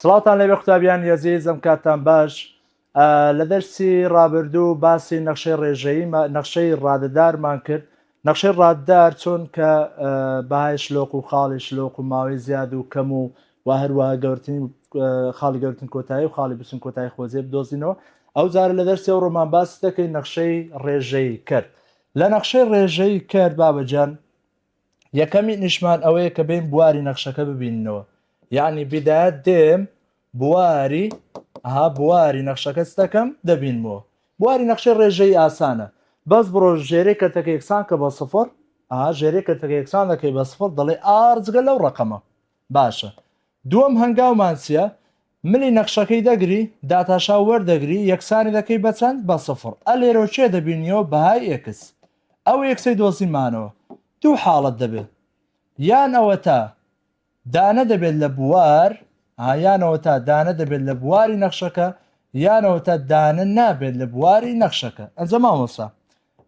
سڵاوتان لەبێ قوتابیان یەزیز ئەم کاتان باش لە دەرسی ڕابردوو باسی نەخشەی ڕێژەیی نەخشەی ڕادەدارمان کرد نەخشەی ڕاددار چۆن کە بەهای شلۆق و خاڵی شلۆق و ماوەی زیاد و کەم و و هەروەها گەورتنی خاڵی گەورتن کۆتایی و خاڵی بچن کۆتایی خۆزیێ بدۆزینەوە ئەو جارە لە دەرسی ئەو ڕۆمان باس دەکەین نەخشەی ڕێژەی کرد لە نەخشەی ڕێژەی کرد بابەجان یەکەمینیشمان ئەوەیە کە بێن بواری نەخشەکە ببیننەوە یعنی بدایەت دێم بواری ها بواری نەخشەکە ستەکەم دەبینمەوە بواری نەخشەی ڕێژەی ئاسانە بەس بڕۆ ژێرەی کەتەکە یەکسان کە بە سفر ژێرەی کەتەکە یەکسان دەکەی بە سفر دەڵێ ئارجگە لەو ڕقەمە باشە دووەم هەنگاومانسیە ملی نەخشەکەی دەگری داتاشا وەردەگری یەکسانی دەکەی بە چەند بە سفڕ ئە لێرۆ کێ دەبینیەوە بەهای ئێکس ئەو ئێکسەی دۆزیمانەوە دوو حاڵەت دەبێ یان ئەوەتا دانە دەبێت لە بوار ها یانەوەتا دانە دەبێت لە بواری نەخشەکە یانەوەتا دانە نابێت لە بواری نەخشەکە ئەنجە مامۆسا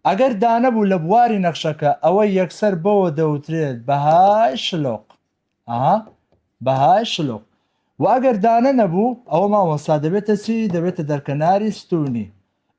ئەگەر دانەبوو لە بواری نەخشەکە ئەوە یەکسەر بەوە دەوترێت بەهای شلۆق ئەها بەهای شلۆق وە ئەگەر دانە نەبوو ئەوە مامۆستا دەبێتە چی دەبێتە دەرکەناری ستونی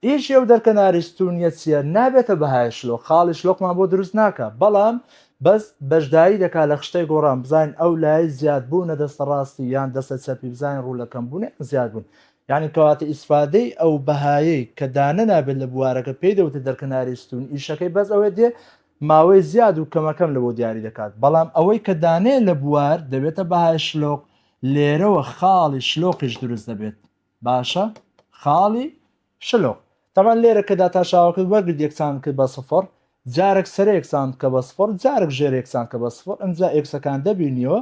ئیشی ئەو دەرکەناری ستونیە چییە نابێتە بەهای شلۆق خاڵی شلۆقمان بۆ دروست ناکە بەڵام بەس بەشداری دەکا لە خشتەی گۆڕان بزانین ئەو لای زیاد بوونە دەستە ڕاستی یان دەستە چەپی بزانین ڕوو لە کەم بوونێ زیاد بوون یعنی کەواتە ئیسفادەی ئەو بەهایەی کە دانە نابێت لە بوارەکە پێی دەوتە دەرکەناری ستون ئیشەکەی بەس ئەوێ دێ ماوەی زیاد و کەمەکەم لە بۆ دیاری دەکات، بەڵام ئەوەی کە دانەیە لە بوار دەبێتە بەهای شلۆق، لێرەوە خاڵی شلۆقیش دروست دەبێت، باشە خاڵی شلۆق تەبعەن لێرە کە داتاشاوەکەت وەرگرت یەکسان بکەیت بە سفر، جارەک سەرە یەکسان بکە بە سفر، جارەک ژێرە یەکسان بکە بە سفر، ئەمجا ئێکسەکان دەبینیەوە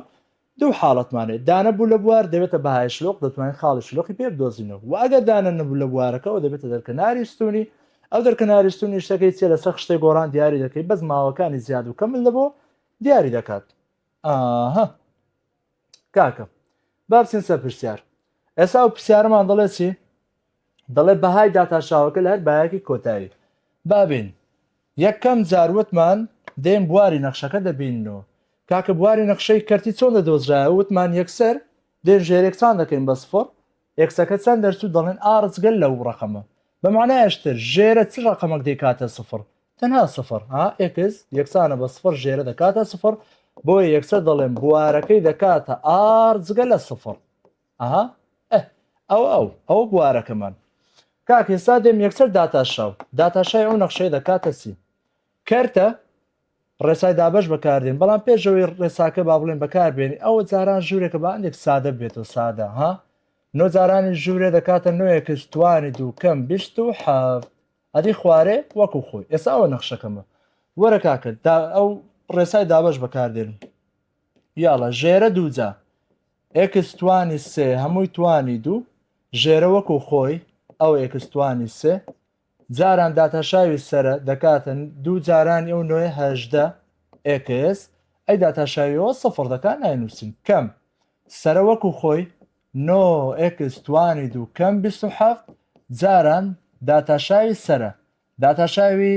دوو حاڵەتمان هەیە، دانە بوو لە بوار دەبێتە بەهای شلۆق، دەتوانین خاڵی شلۆقی پێ بدۆزینەوە و ئەگەر دانە نەبوو لە بوارەکە ئەو دەبێتە دەرکەناری ستوونی، ئەو دەرکەناری ستوونی شتەکەی چیە لەسەر خشتەی گۆڕان دیاری دەکەی بەس ماوەکانی زیاد و کەمت لەبۆ دیاری دەکات ئاها کاکە بابچین سەر پرسیار ئێسا ئەو پرسیارەمان دەڵێ چی؟ دەڵێت بەهای داتاشاوەکە لە هەر بایەکی کۆتایی بابین یەکەم جار وتمان دێن بواری نەخشەکە دەبینن و کاکە بواری نەخشەی کەرتی چۆن دەدۆزرایەوە وتمان یەکسەر دێن ژێرێکسان دەکەین بە سفڕ ئێکسەکە چەند دەرچوو دەڵێن ئاڕس گەل لەو ڕەقەمە بە معنایش تر ژێرە چ ڕەقەمەک دەیکاتە سفڕ تەنها سفڕ ها ئێکس یەکسانە بە سفڕ ژێرە دەکاتە سفڕ بۆیە یەکسەر دەڵێن بوارەکەی دەکاتە ئاڕ جگە لە سفڕ ئەها ئەوە ئەو ئەوە بوارەکەمان کاک هێستا دێم یەکسەر داتاشاو داتاشای ئەو نەخشەیە دەکاتە چی کەرتە ڕێسای دابش بەکاردێن بەڵام پێشەوەی ڕێساکە با بڵێن بەکاربێنی ئەوە جاران ژوورێکە بە ئەندێک سادە بێتەوە سادە ها نۆ جارانی ژوورێ دەکاتە نوێە کەس توانی دوو کەم بیست و حەفت ئەدی خوارێ وەکو خۆی ئێستا ئەوە نەخشەکەمە وەرە کاکرد ئەو ڕێسای دابش بەکاردێن یاڵە ژێرە دووجا ئێکس توانی سێ هەمووی توانی دوو ژێرە وەکو خۆی ئەو ئێکس توانی سێ جاران داتاشاوی سەرە دەکاتە دوو جارانی ئەو نۆیە هەژدە ئێکس ئەی داتاشاویەوە سفر دەکات ناینووسین کەم سەرە وەکو خۆی نۆ ئێکس توانی دوو کەم بیست و حەفت جاران داتاشاوی سەرە داتاشاوی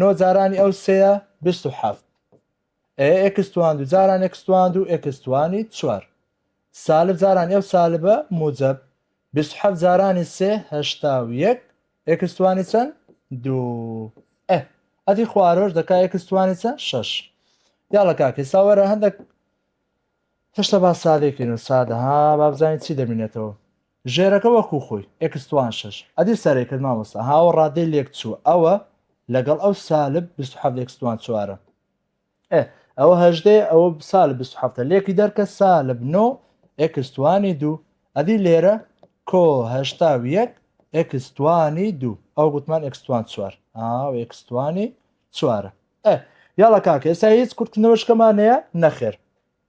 نۆ جارانی ئەو سێیە بیست و حەفت ئێ ئێکس تواند و جاران ئێکس تواند و ئێکس توانی چوار سالب جارانی ئەو سالبە موجەب بیست و حەفت جارانی سێ هەشتا و یەک ئێکس توانی چەند دوو ئێ ئەدی خوارۆش دەکا ئێکس توانی چەند شەش یاڵە کاکە ساوەرە هەندێک هێشتا با سادێکین و سادە ها با بزانین چی دەمینێتەوە ژێرەکە وەکو خۆی ئێکس توان شەش ئەدی سەرەی کرد مامۆستا ها ئەوە ڕادەی لێک چووە ئەوە لەگەڵ ئەو سالب بیست و حەفت ئێکس توان چوارە ئێ ئەوە هەژدەیە ئەوە سالب بیست و حەفتە لێکی دەرکە سالب نۆ ئێکس توانی دوو ئەدی لێرە کۆ هەشتا و یەک ئێکس توانی دوو ئەو گوتمان ئێکس توان چوار ئاو ئێکس توانی چوارە ئێ یاڵە کاکە ئێستا هیچ کورتکردنەوەشکەمان هەیە نەخێر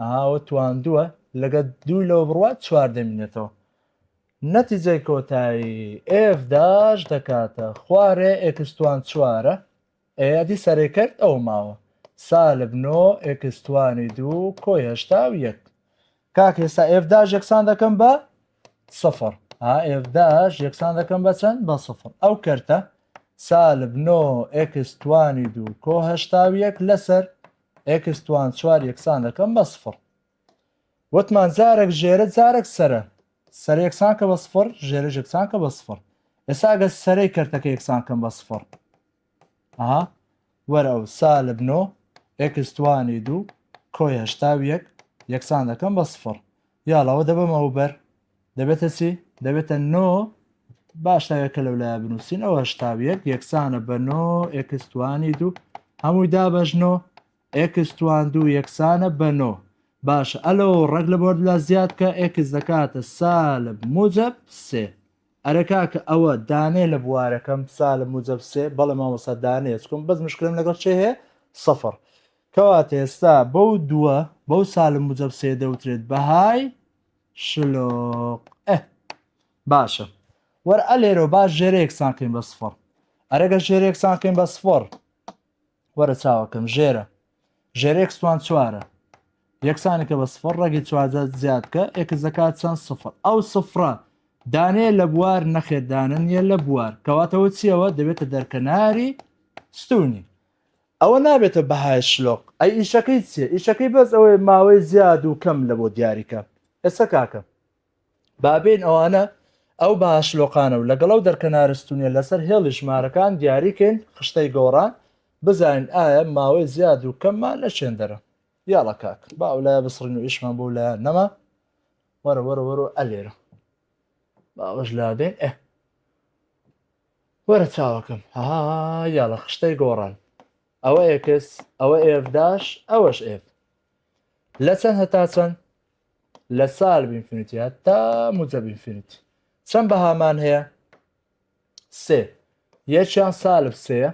ئەها ئەوە تواندووە لەگە دووی لەوە بڕوات چوار دەمینێتەوە نەتیجەی کۆتایی ئف داش دەکاتە خوارێ ئێکستوان چوارە ئەیادی سەرێ کرد ئەو ماوە سالب نۆ ئێکستوانی دوو کۆی هەشتا و یەک کاک ئێستا ئف داش یەکسان دەکەم بە سفر ئف داش یەکسان دەکەم بە چەند بە سفر ئەو کەرتە سالب نۆ ئێکستوانی دوو کۆ هەشتا و یەک لەسەر ئێکس توان چوار یەکسان دەکەم بە سفڕ وتمان جارێک ژێرە جارێک سەرە سەر یەکسان کە بە سفڕ ژێرە یەکسان کە بە سفڕ ئێساگە سەرەی کەرتەکە یەکسان کەم بە سفڕ ئەها وەرە ئەو سالب نۆ ئێکس توانی دوو کۆی هەشتا یەک یەکسان دەکەم بە سفڕ یاڵاوە دەبم ئەو بەر دەبێتە چی دەبێتە نۆ باش تاوێکە لەو لای بنووسین ئەوە هشتاویەک یەکسانە بە نۆ ئێکستوانی دوو هەمووی دابەژنۆ ئێکستوان دوو یەکسانە بە نۆ باش ئەلۆ ڕەگ لە بۆرد لە زیاد کە ئێکس دەکاتە سالب موجب سێ ئەرەکا کە ئەوە دانێ لە بوارەکەم سالب موجب سێ بەڵێ مامۆسا دانێ چکم بەس مشکلم لەگەڵ چێ هەیە سەفر کەواتە ئێستا بەو دووە بەو سالم مجەب سێ دەوترێت بەهای شلۆق ئە باشە وەر ئەلێرۆ باش ژێرەیەکسان کەین بە سفڕ ئەرەگە ژێرەیەکسان کەین بە سفڕ وەرە چاوەکەم ژێرە ژێرەێکسوان چوارە یەکسانی کە بە سفر ڕێگی چوازە زیاد کە ئێکس دەکات چەند سفر ئەو سفرە دانێ لە بوار نەخێدانە نیە لە بوار کەواتەوە چیەوە دەبێتە دەرکەناری ستونی ئەوە نابێتە بەهای شلۆق. ئەی ئیشەکەی چیە ئیشەکەی بەس ئەوەیە ماوەی زیاد و کەم لەبۆ دیاریکە ئێستا کاکە بابێین ئەوانە ئەو بەها شلۆقانە و لەگەڵ ئەو دەرکەنارە ستونیە لەسەر هێڵی ژمارەکان دیاریکەین خشتەی گۆڕان بزانین ئایا ماوەی زیاد و کەممان لە چێندەرە یاڵا کاک با ئەو لایە بسڕین و ئیشمان بۆ لایە نەما وەرە وەرە وەرە ئەلێرە باوەش لابێن ئە وەرە چاوەکەم هەهاا یاڵە خشتەی گۆڕان ئەوە ئێکس ئەوە ئێف داش ئەوەش ئێف لە چەند هەتا چەند لە سال بینفینیتیا تا موجە بینفینیت چەند بەهامان هەیە سێ یەکیان سالب سێە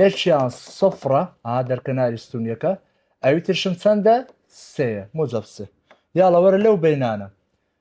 یەکیان سفرە ئا دەرکەناری ستونیەکە ئەوی ترشم چەندە سێە موجەب سێ یاڵەوەرە لەو بینانە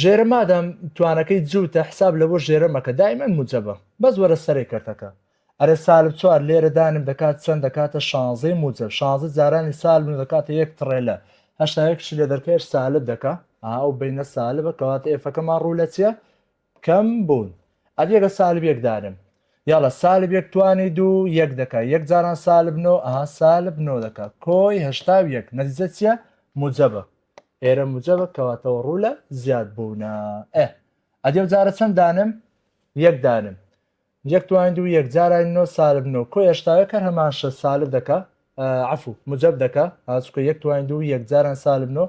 ژێرە مادام توانەکەی جوتە حساب لەبۆ ژێرە مەکە دایمەن موجەبە بەس وەرە سەرێ کەرتەکە ئەرێ سالب چوار لێرە دانم دەکات چەند دەکاتە شانزەی موجەب شانزە جارانی سالب نۆ دەکاتە یەک تڕێلە هەشتا یەکشی لە دەرکەش سالب دەکا ئا ئەو بینە سالبە کەواتە ئێفەکەمان ڕوو لە چیە کەم بوون ئەدیەگە سالب یەک دانم یاڵە سالب یەک توانی دوو یەک دەکا یەک جاران سالب نۆ ئا سالب نۆ دەکا کۆی هەشتا و یەک نەتیجە چیە موجەبە ئێرە موجەبە کەواتەوە ڕوو لە زیاد بوونە ئە ئەدێ جارە چەند دانم یەک دانم یەک توانین دوو یەک جارای نۆ سالب نۆ کۆ هێشتاوە کە هەمان شە سالب دەکە عفو مجەب دەکە ئاسکە یەک توانین دوو یەک جاران سالب نۆ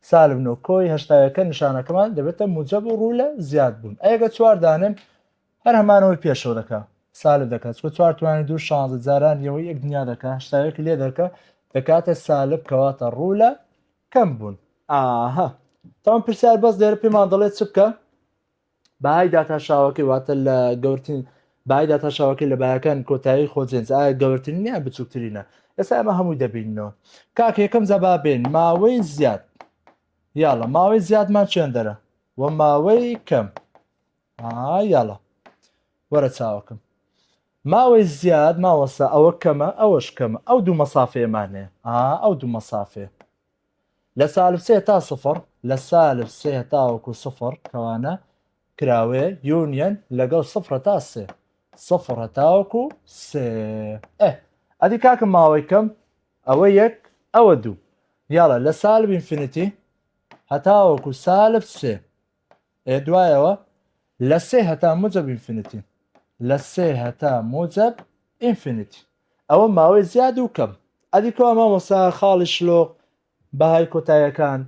سالب نۆ کۆی هەشتاوەکە نیشانەکەمان دەبێتە موجەب و ڕوو لە زیاد بوون ئەگە چوار دانم هەر هەمانەوەی پێشەوە دەکا سالب دەکا چکە چوار توانی دوو شانزە جاران یەوەی یەک دنیا دەکا هەشتا یەک لێ دەکا دەکاتە سالب کەواتە ڕوو لە کەم بوون ئاها تاوان پرسیار بەس لێرە پێمان دەڵێت چ بکە بەهای داتاشاوەکەی واتە لە گەورتین بای داتاشاوەکەی لە بایەکان کۆتایی خۆجنس ئایا گەورترین یان بچووکترینە ئێستا ئەمە هەمووی دەبینەوە کاک یەکەم جەبابێن ماوەی زیاد یاڵە ماوەی زیادمان چێندەرە و ماوەی کەم ئا یاڵا وەرە چاوەکەم. ماوەی زیاد مامۆستا ئەوە کەمە ئەوەش کەمە ئەو دوو مەسافەیەمان هەیە ئا ئەو دوو مەسافەیە لە سالب سێ تا سفر لە سالب سێ تاوەکو سفر کەوانە کراوەیە یونیەن لەگەڵ سفرە تا سێ سفر هەتاوەکو سێ ئە ئەدی کاکە ماوەی کەم ئەوە یەک ئەوە دوو یاڵە لە سالب ئینفینیتی هەتاوەکو سالب سێ ئێ دوایەوە لە سێ هەتا موجب ئینفینیتی لە سێ هەتا موجب ئینفینیتی ئەوە ماوەی زیاد و کەم ئەدیکۆ ئەمە وەسا خاڵی شلۆق بەهای کۆتایەکان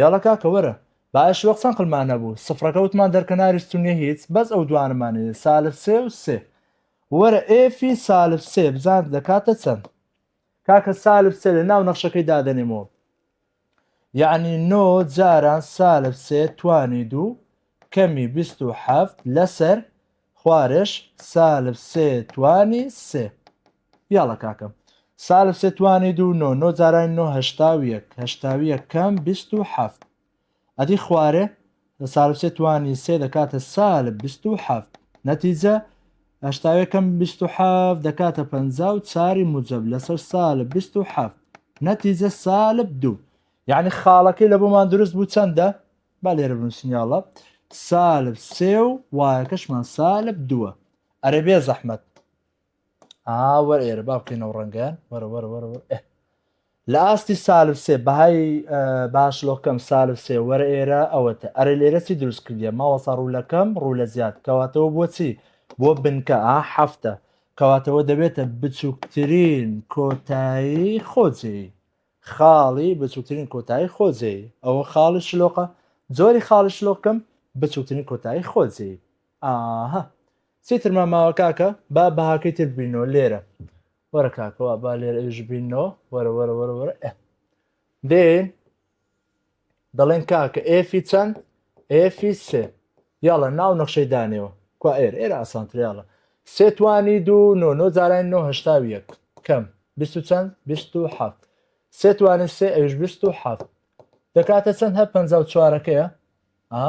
یاڵە کاکە وەرە باە شلۆق چەند قلمان نەبوو سفرەکە وتمان دەرکەناری ستونیە هیچ بەس ئەو دوانمانێ سالب سێ و سێ وەرە ئێفی سالب سێ بزان دەکاتە چەند کاکە سالب سێ لە ناو نەخشەکەی دادەنێمەوە یەعنی نۆ جاران سالب سێ توانی دوو کەمی بیست و حەفت لەسەر خوارێش سالب سێ توانی سێ یاڵە کاکەم سالب سێ توانی دوو نۆ نۆ جارانی نۆ هەشتا و یەک هەشتا و یەک کەم بیست و حەفت ئەدی خوارێ لە سالب سێ توانی سێ دەکاتە سالب بیست و حەفت نەتیجە هەشتا و یەکەم بیست و حەفت دەکاتە پەنجا و چاری موجەب لەسەر سالب بیست و حەفت نەتیجە سالب دوو یعنی خاڵەکەی لە بۆمان دروست بوو چەندە با لێرە بنووسنیاڵە سالب سێ و وایەکەشمان سالب دووە ئەرێ بێ زەحمەت ئا وەر ئێرە با بکەینەوە ڕەنگەیان وەرە وەرە وەرە وەر ئێ لە ئاستی سالب سێ بەهای باشلۆکەم سالب سێ وەرە ئێرە ئەوەتە ئەرە لێرە چی دروست کردە ماوەسا ڕوولەکەم ڕوو لە زیاد کەواتەوە بۆچی بۆ بنکە ئا هەفتە کەواتەوە دەبێتە بچووکترین کۆتایی خۆجێ خاڵی بچووکترین کۆتایی خۆجێ ئەوە خاڵی شلۆقە زۆری خاڵی شلۆکەم بچووکترین کۆتایی خۆجێ ئاهە چی ترمان ماوە کاکە با بەهاکەی تر ببینەوە لێرە وەرە کاکەوە با لێرە ئێژ بینەوە وەرە وەرە وەرە وەرە ئە دێن دەڵێن کاکە ئێفی چەند ئێفی سێ یاڵە ناو نەخشەی دانێەوە کوا ئێر ئێرە ئاسانتریاڵە سێتوانی دوو نۆ نۆ جاران نۆ هشتا یەک کەم بیست و چەند بیست و حەفت سێتوانی سێ ئەوش بیست و حەفت دەکاتە چەند هە پ چوارەکەیە ئا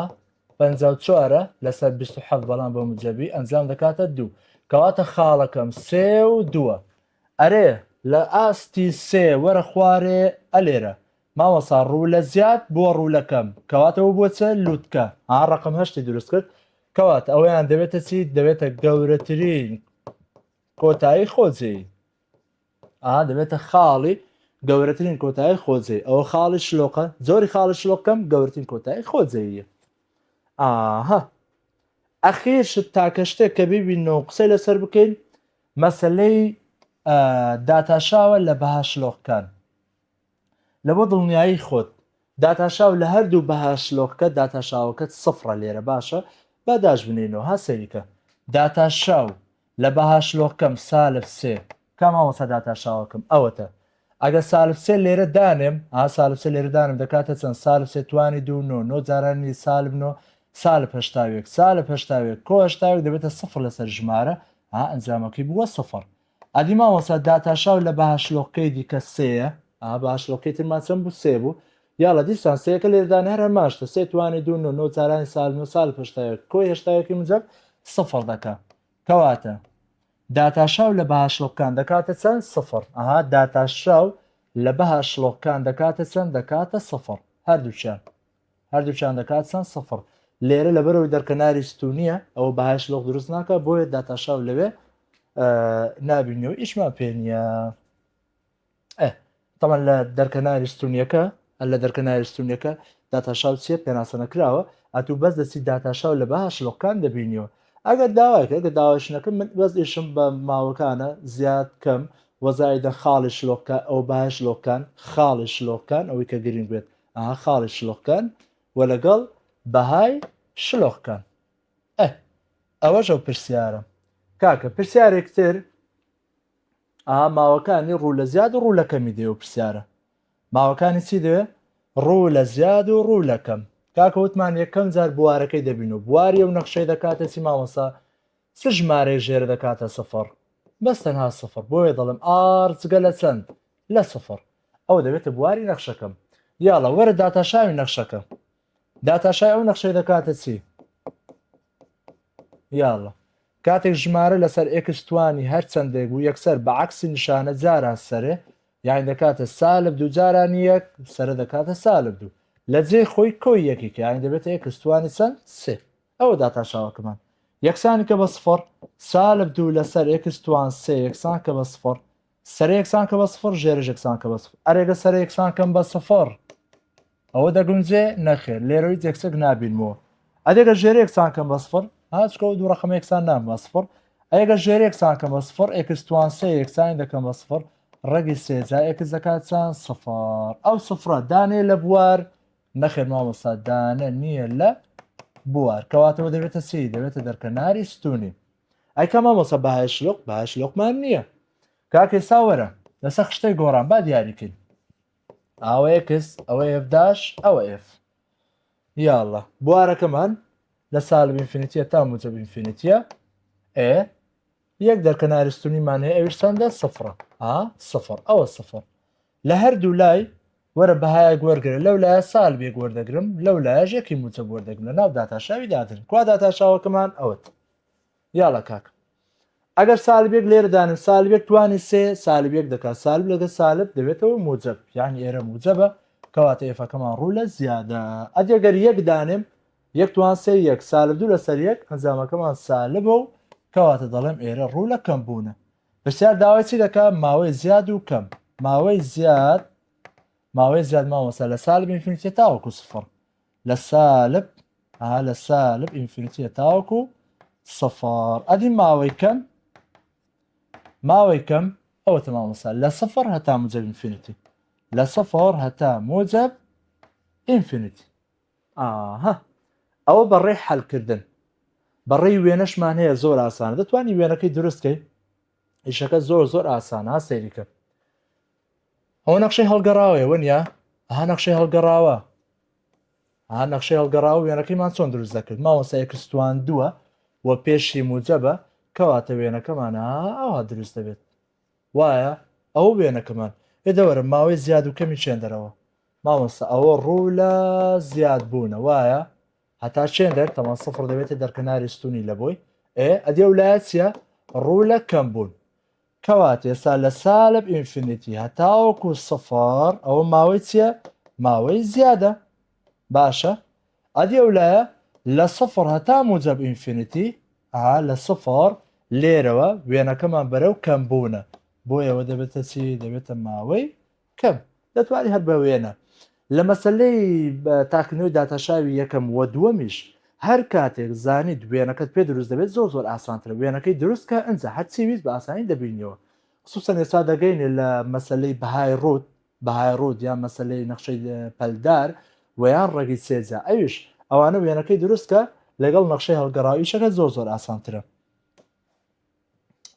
پەنجا و چوار ە لەسەر بیست و حەفت بەڵام بە موجەبی ئەنجام دەکاتە دوو کەواتە خاڵەکەم سێ و دووە ئەرێ لە ئاستی سێ وەرە خوارێ ئەلێرە مامۆسا ڕوولە زیاد بووە ڕوولە کەم کەواتە و بووە چە لووتکە ها ڕەقم هەشتی دروست کرد کەواتە ئەوەیان دەبێتە چی دەبێتە گەورەترین کۆتایی خۆجێی ئا دەبێتە خاڵی گەورەترین کۆتایی خۆجێ ئەوە خاڵی شلۆقە زۆری خاڵی شلۆکەم گەورترین کۆتایی خۆجەیە ئاها ئەخیر شت تاکە شتێک کە ببینەوە و قسەی لەسەر بکەین مەسلەی داتاشاوە لە بەها شلۆقکان لەبۆ دڵنیایی خۆت داتاشاو لە هەردوو بەها شلۆقکە داتاشاوەکەت سفڕە لێرە باشە با داش بنێینەوە ها سەیرکە داتاشاو لە بەها شلۆقکەم سالب سێ کا مامۆستا داتاشاوەکەم ئەوەتە ئەگە سالب سێ لێرە دانێم ها سالب سێ لێرە دانم دەکاتە چەند سالب سێ توانی دوو نۆ نۆ جارانی سالب نۆ سالب هەشتاوێک سالب هەشتاوێک کۆ هەشتاوێک دەبێتە سفڕ لەسەر ژمارە ها ئەنجامەکەی بووە سفڕ ئەدی مامۆستا داتاشاو لە بهشلۆقکەی دیکە سێیە؟ ئا بهشلۆقکەی ترمان چەند بوو سێ بوو یاڵە دیسان سێیەکە لێدانی هەر هەمان شتە سێ توانی دوو نۆ نۆ چارانی سالب نۆ سالب هەشتا یەک کۆی هەشتا یەکی موجەب سفڕ دەکا کەواتە داتاشاو لە بهشلۆقکان دەکاتە چەند سفڕ ئەها داتاشاو لە بهشلۆقکان دەکاتە چەند دەکاتە سفڕ هەردووکیان هەردووکیان دەکات چەند سفر لێرە لەبەرەوەی دەرکەناری ستونیە ئەوە بەهای شلۆق دروست ناکە بۆیە داتاشاو لەوێ نابینەوە ئیشمان پێ نیە تەمان لە دەرکەناری ستونیەکە لە دەرکەناری ستونیەکە داتاشاو چیە پێناسە نەکراوە ئەتوو بەس دەچی داتاشاو لە بەها شلۆکان دەبینیەوە ئەگەر داواکە گە داواشنەکە من بەس ئیشم بە ماوەکانە زیاد کەم وەزایدە خاڵی شلۆکە ئەو باش لۆکان خاڵی شلۆکان ئەوەی کە گرنگ بێت ئەها خاڵی شلۆق کەن و لەگەڵ بەهای شلۆق کەن ئە ئەوەش ئەو پرسیارم کاکە پرسیارێک تر ئا ماوەکانی ڕوو لە زیاد و ڕوو لە کەمی دێ و پرسیارە ماوەکانی چی دەوێ ڕوو لە زیاد و ڕوو لە کەم کاکە وتمان یەکەم جار بوارەکەی دەبین و بواری و نەخشەی دەکاتە چی مامەسا چ ژمارەی ژێرە دەکاتە سفر بەس تەنها سفر بۆیە دەڵم ئارچگە لە چەند لە سفر ئەوە دەبێتە بواری نەخشەکەم یاڵە وەرە داتاشاوی نەخشەکە داتاشای ئەو نەخشەی دەکاتە چی یاڵە کاتێک ژمارە لەسەر ئێکستوانی هەر چەندێک بوو یەکسەر بە عکسی نیشانە جاران سەرێ یان دەکاتە سالب دوو جاران یەک سرە دەکاتە سالب دوو لە جێ خۆی کۆی یەکێک یان دەبێتە ئێکستوانی چەند سێ ئەوە داتاشاوەکەمان یەکسانی کە بە سفر سالب دوو لەسەر ئێکستوان سێ یەکسان کە بە سفر سەرە یەکسان کە بە سفڕ ژێرەش یەکسان کە بە سفڕ ئەرێ گە سەرە یەکسان کەم بە سفڕ ئەوە دەگونجێ نەخێر لێرە هیچ یەکسێک نابینمەوە ئەدێگە ژێرە یەکسان کەم بە سفڕ هاچکە و دوو ڕقمە یەکسان نام بە سفڕ ئەگە ژێر یەکسان کەم بە سفڕ ئێکستوان سێ یەکسانی دەکەم بە سفڕ ڕەگی سێجا ئێکس دەکات چەند سفر ئەو سفرە دانێ لە بوار نەخێر مامۆستا دانە نییە لە بوار کەواتەوە دەبێتە سی دەبێتە دەرکەناری ستونی ئەی کە مامۆسا بەهایش لۆق بەهایش لۆقمان نییە کاک ئێستا وەرە لەسەر خشتەی گۆڕان با دیاریکەین ئەوە ئێکس ئەوە ئێفداش ئەوە ئێف یاڵە بوارەکەمان لە سال بینفینیتە تا موجە بینفینیتە ئێ یەک دەرکە نارستنیمان هەیە ئەویش چەندە سفرە ها سفر ئەوە سفر لە هەردوو لای وەرە بەهایەک وەرگرە لەو لایە سال بێک وەردەگرم لەو لایەش یەکی موچە بوەردەگرم لە ناو داتاشاوی دادن کوا داتاشاوەکەمان ئەوت یاڵە کاکم ئەگەر سالبێک لێردانن سالبێک توانی سێ سالبێک دەکات سالب لەگە سالب دەبێتەوە موجب یعنی ئێرە موجبە کەواتە ئێفەکەمان ڕوو لە زیادە ئەدێگەر یەک دانێم یەکتوان سێ یەک سالب دوو لەسەر یەک ئەنجامەکەمان سالبە و کەواتە دەڵێم ئێرە ڕوو لە کەم بوونە پرسیار داوای چی دەکا ماوەی زیاد و کەم ماوەی زیاد ماوەی زیاد ماوەسا لە سالب ئینفینیتە تاوەکو سفر لە سالب ها لە سالب ئینفینیتە تاوەکو سفر ئەدی ماوەی کەم ماوەی کەم ئەوە تەمامەسا لە سفر هەتا مجەب ئینفینیتی لە سفر هەتا مجەب ئینفینیتی ئاها ئەوە بە ڕێی حەلکردن بە ڕێی وێنەشمان هەیە زۆر ئاسانە دەتوانانی وێنەکەی دروستکەی ئیشەکە زۆر زۆر ئاسانە سەیریکە ئەوە نەخشەی هەڵگەڕاوەیە وەنیا ها نەخشەی هەڵگەڕاوە ها نەخشەی هەڵگەڕاوە وێنەکەیمان چۆن دروست دەکرد ماوەسایکستوان دووە و پێشی موجەبە کەواتە وێنەکەمانە ئەوها دروست دەبێت وایە ئەو وێنەکەمان ئێدەوەرە ماوەی زیاد و کەمی چێندەرەوە مامۆستا ئەوە ڕوو لە زیاد بوونە وایە هەتا چێن دەر تەمان سفر دەبێتە دەرکەناری ستونی لە بۆی ئێ ئەدێ و لایە چیە ڕوو لە کەم بوون کەوات ئێستا لە سالب ئینفینیتی هەتاوەکو سفر ئەوە ماوەی چیە ماوەی زیادە باشە ئەدی ئەو لایە لە سفر هەتا موجب ئینفینیتی ئا لە سفر لێرەوە وێنەکەمان بەرەو کەم بوونە بۆ ئێوە دەبێتە چی دەبێتە ماوەی کەم دەتوانی هەر بە وێنە لە مەسلەی تاکنەوەی داتاشاوی یەکەم و دووەمیش هەر کاتێک زانی دوێنەکەت پێ دروست دەبێت زۆر زۆر ئاسانترە وێنەکەی دروستکە ئەجا هەرچی ویست بە ئاسانی دەبینیەوە خصوصا ئێستا دەگەینێ لە مەسلەی بەهای ڕوت بەهای ڕوت یان مەسلەی نەخشەی پەلدار ویان ڕێگی سێجا ئەویش ئەوانە وێنەکەی دروستکە لەگەڵ نەخشەی هەڵگەڕاویشەکە زۆر زۆر ئاسانترە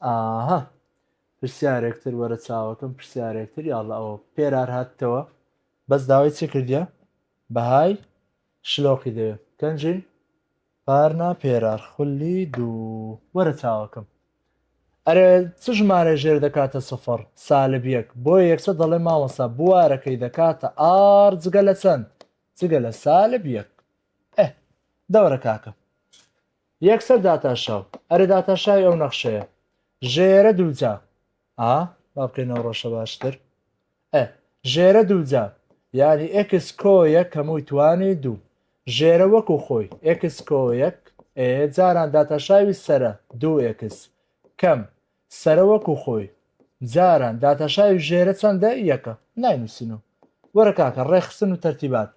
ئاها پرسیارێکتر وەرە چاوەکەم پرسیارێکتر یاڵە ئەوە پێرار هاتتەوە بەس داوای چی کردە بەهای شلۆقی دەوێ کەنجین پارنا پێرار خولی دوو وەرە چاوەکەم ئەرێ چ ژمارە ژێر دەکاتە سفر سالب یەک بۆ یەکسە دەڵێ ماوەسا بوارەکەی دەکاتە ئار جگە لە چەند جگە لە سالب یەک دەورە کاکە یەکسەر داتاشاو ئەرێ داتاشاوی ئەو نەخشەیە ژێرە دووجا ئا با بکەینەوە ڕەشە باشتر ئە ژێرە دووجا یعنی ئکس کۆ یەک هەمووی توانی دوو ژێرە وەکو خۆی ئکس کۆ یەک ئێ جاران داتاشاوی سرە دوو ئکس کەم سرە وەکو خۆی جاران داتاشاوی ژێرە چەندە یەکە ناینووسینەوە وەرە کاکە ڕێخستن و تەرتیبات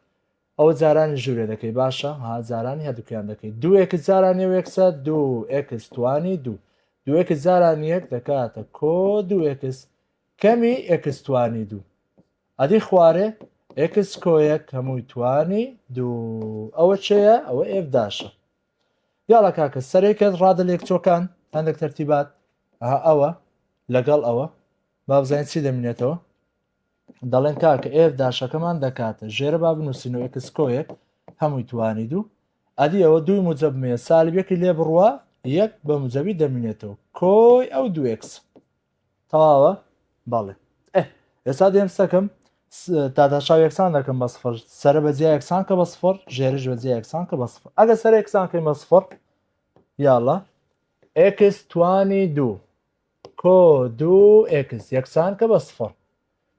ئەوە جارانی ژورێ دەکەی باشە ها جارانی هەردوکیان دەکەی دوو ئێکس جارانی و ئێکسە دوو ئێکس توانی دوو دوو ئێکس جارانی یەک دەکاتە کۆ دوو ئێکس کەمی ئێکس توانی دوو ئەدی خوارێ ئێکس کۆیەک هەمووی توانی دوو ئەوە چەیە ئەوە ئێف داشە یاڵە کاکە سەرێکە ڕادە لێکچۆکان هەندێک تەرتیبات ئەوە لەگەڵ ئەوە بابزانین چی دەمینێتەوە دەڵێن کاکە ئێف داشەکەمان دەکاتە ژێرە با بنووسین و ئەکسکۆیەک هەمووی توانید و ئەدی ئەوە دووی موجەبمێ سالبیەکی لێ بڕوە یەک بە موجەبی دەمینێتەوە کۆی ئەو دوێکس تەواوە بەڵێ ئێستا دێم سەکەم تاداشاو یەکسان دەکەم بە سفر سرە بە جیا یەکسان کە بە سفر ژێرش بە جیا یەکسان کە بە سفر ئەگە سەر یەکسان کەی مە سفر یاڵە ئکس توانی دوو کۆ دوو ئێکس یەکسان کە بە سفڕ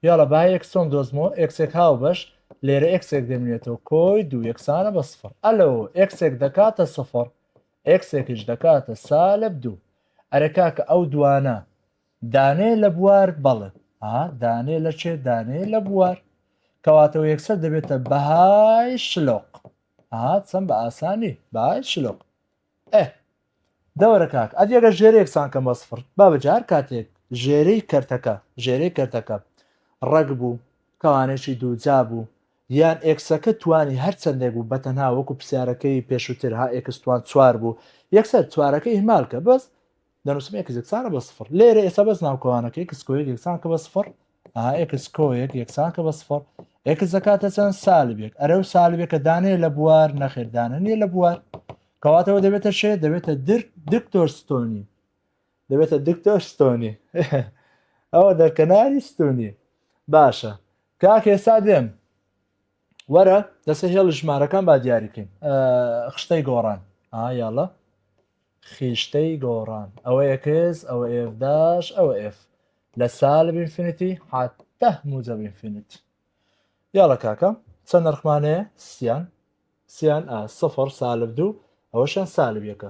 یاڵە با ئێکس چۆن دۆزمەوە ئێکسێک هاوبەش لێرە ئێکسێک دەمێنێتەوە کۆی دوو یەکسانە بە سفڕ ئەلۆ ئێکسێک دەکاتە سفڕ ئێکسێکیش دەکاتە سالب دوو ئەرێ کاکە ئەو دوانە دانێ لە بوار بەڵێ ها دانێ لە چێ دانێ لە بوار کەواتەوە یەکسەر دەبێتە بەهای شلۆق ها چەند بە ئاسانی بای شلۆق ئە دەوەرە کاک ئەدی ئەگە ژێرەیەک سان کەم بە سفر بابە جار کاتێک ژێرەی کەرتەکە ژێرەی کەرتەکە ڕەگ بوو کەوانێکی دووجا بوو یان ئێکسەکە توانی هەر چەندێک بوو بەتەنها وەکو پرسیارەکەی پێشووتر ها ئێکستوان چوار بوو یەکسەر چوارەکە ئیهمالکە بەس دەنووسم ئێکس یەکسانە بە سفر لێرە ئێستا بەس ناوکەوانەکە ئێکس کۆیەک یەکسانکە بە سفر ئێکس کۆیەک یەکسانکە بە سفر ئێکس دەکاتە چەند سالبێک ئەرە و سالبێکە دانێ لە بوار نەخێردانە نیە لە بوار کەواتەوە دەبێتە شێ دەبێتە دکتۆر ستۆنی دەبێتە دکتۆر ستۆنی ئەوە دەرکەناری ستونی باشە کاک ئێستا دێم وەرە دەسە هێڵ ژمارەکان با دیاریکەین خشتەی گۆڕان ئایاڵە خیشتەی گۆڕان ئەوە ئێکس ئەوە ئێف داش ئەوە ئێف لە سالب ئینفینیتی حتا موجب ئینفینیت یاڵە کاکە چەند نرخمانەیە سیان سیان ئا سفر سالب دوو ئەوەشیان سالب یەکە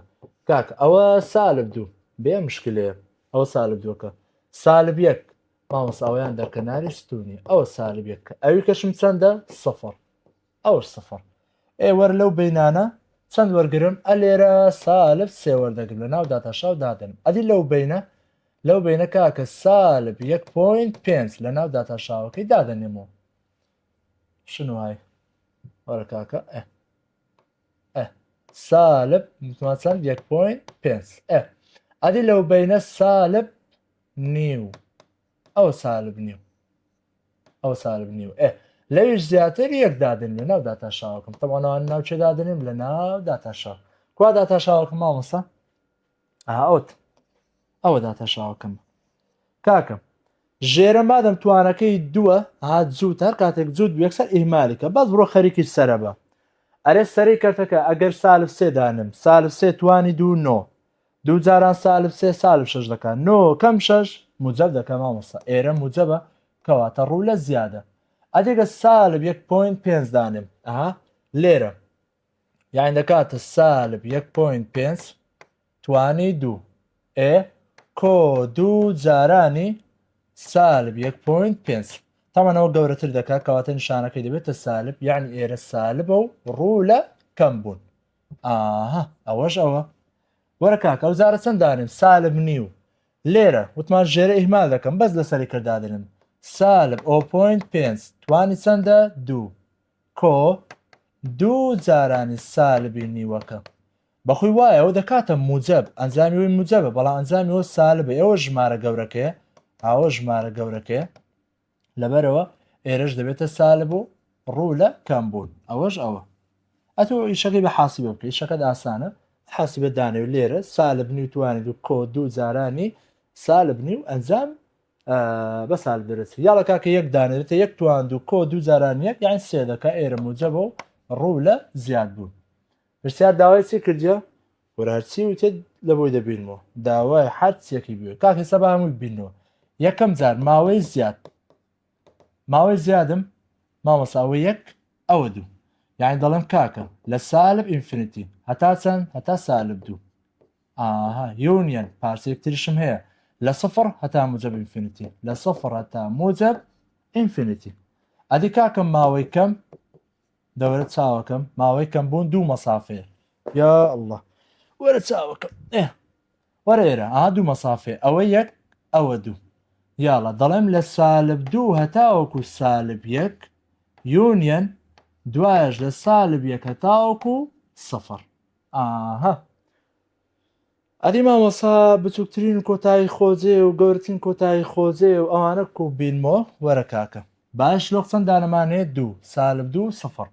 کاک ئەوە سالب دوو بێ مشکلەیە ئەوە سالب دووەکە سالب یەک مامۆس ئەویان دەرکەناری ستونی ئەوە سالب یەکە ئەوی کەشم چەندە سفر ئەور سفر ئێ وەر لەو بینانە چەند وەرگرم ئە لێرە سالب سێ وەردەگرم لە ناو داتاشاو دادەنم ئەدی لەو بینە لەو بینە کاکە سالب یەک پۆینت پێنج لە ناو داتاشاوەکەی دادەنێمەوە شنو های وەرە کاکە ئە ئە سالب متمان چەند یەک پۆینت پێنج ئە ئەدی لەو بینە سالب نیو ئەوە سالب نیو ئەوە سالب نیو ئێ لەویش زیاتر یەک دادن لە ناو داتا شاوەکەم تەوانەوان ناو چێ دادنم لە ناو داتا شاو کوا داتا شاوەکەم مامۆسا ئەوت ئەوە داتا شاوەکەم کاکەم ژێرە مادەم توانەکەی دووە هات زووت هەر کاتێک زود یەکسەر ئیمالێکە بەس بڕۆ خەریکی سرە بە ئەرێ سەری کەرتەکە ئەگەر سالف سێدانم سالف سێ توانی دوو نۆ دوو جاران سالب سێ سالب شەش دەکا نۆ کەم شەش موجەب دەکا مامۆستا ئێرە موجەبە کەواتە ڕوو لە زیادە ئەدێگە سالب یەک پۆینت پێنج دانێم ئەها لێرە یان دەکاتە سالب یەک پۆینت پێنج توانی دوو ئێ کۆ دوو جارانی سالب یەک پۆینت پێنج تەمەەوە گەورەتر دەکات کەواتە نیشانەکەی دەبێتە سالب یعنی ئێرە سالبە و ڕوو لە کەم بوون ئاها ئەوەش ئەوە وەرە کاکە ئەو جارە چەند دانێم سالب نیو لێرە وتمان ژێرە ئیهمال دەکەم بەس لەسەری کردادنم سالب ئەو پوینت پێنج توانی چەندە دوو کۆ دوو جارانی سالبی نیوەکە بەخۆی وایە ئەو دەکاتە موجب ئەنجامی وی موجبە بەڵام ئەنجامی وە سالبە ئەوە ژمارە گەورەکەیە ئاوە ژمارە گەورەکەیە لەبەرەوە ئێرەش دەبێتە سالب و ڕوو لە کەمبوون ئەوەش ئەوە ئەتۆ ئیشەکەی بە حاسی بە بکەی شەکەت ئاسانە حاسی بە دانێ و لێرە سالب نی و توانێت و کۆ دوو جارانی سالب نی و ئەنجام بە سال دەرەچ یاڵە کاکە یەک دانێتە یەک توان دوو کۆ دوو جاران یەک یان سێ دەکە ئێرە موجەبە و ڕوو لە زیاد بوون پرسیار داوای چی کردە وەرە هەرچی وتت لەبۆی دەبینمەوە داوای حەر چیەکی بێ کاک هێستا بە هەمووی بینەوە یەکەم جار ماوەی زیاد ماوەی زیادم مامەساوە یەک ئەوە دوو یعنی دەڵێم کاکە لە سالب ئینفینیتی هەتا چەند هەتا سالب دوو ئاها یونیەن پارچێک تریشم هەیە لە سفر هەتا موجب ئینفینیتی لە سفر هەتا موجب ئینفینیتی ئەدی کاکەم ماوەی کەم دەوەرە چاوەکەم ماوەی کەم بوون دوو مەسافەیە یا الله وەرە چاوەکەم ئێ وەرە ئێرە ئا دوو مەسافێ ئەوە یەک ئەوە دوو یاڵە دەڵێم لە سالب دوو هەتاوەکو سالب یەک یونیەن دوایش لە سالب یەک هەتاوەکو سەفر ئاها ئەدی مامۆسا بچووکترین کۆتایی خۆجێ و گەورەترین کۆتایی خۆجێ و ئەوانە کوو بینمۆ وەرە کاکە باش لۆق چەند دانەمانێ دوو سالب دوو سفڕ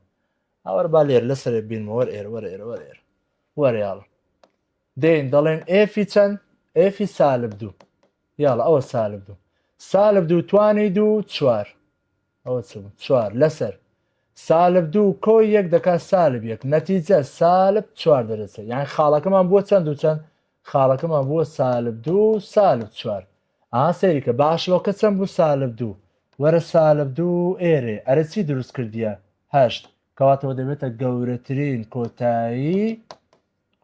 ئەوەر با لێر لەسەرێ بینمۆ وەر ئێرە وەر ئێرە وەر ئێرە وەر یاڵە دێن دەڵێن ئێفی چەند ئێفی سالب دوو یاڵە ئەوە سالب دوو سالب دوو توانی دوو چوار ئەوە چ بوو چوار لەسەر سالب دوو کۆی یەک دەکا سالب یەک نەتیجە سالب چوار دەرەچە یان خاڵەکەمان بووە چەند و چەند خاڵەکەمان بووە سالب دوو سالب چوار ئا سەیریکە باشڵۆکە چەند بوو سالب دوو وەرە سالب دوو ئێرێ ئەرە چی دروست کردیە هەشت کەواتەوە دەبێتە گەورەترین کۆتایی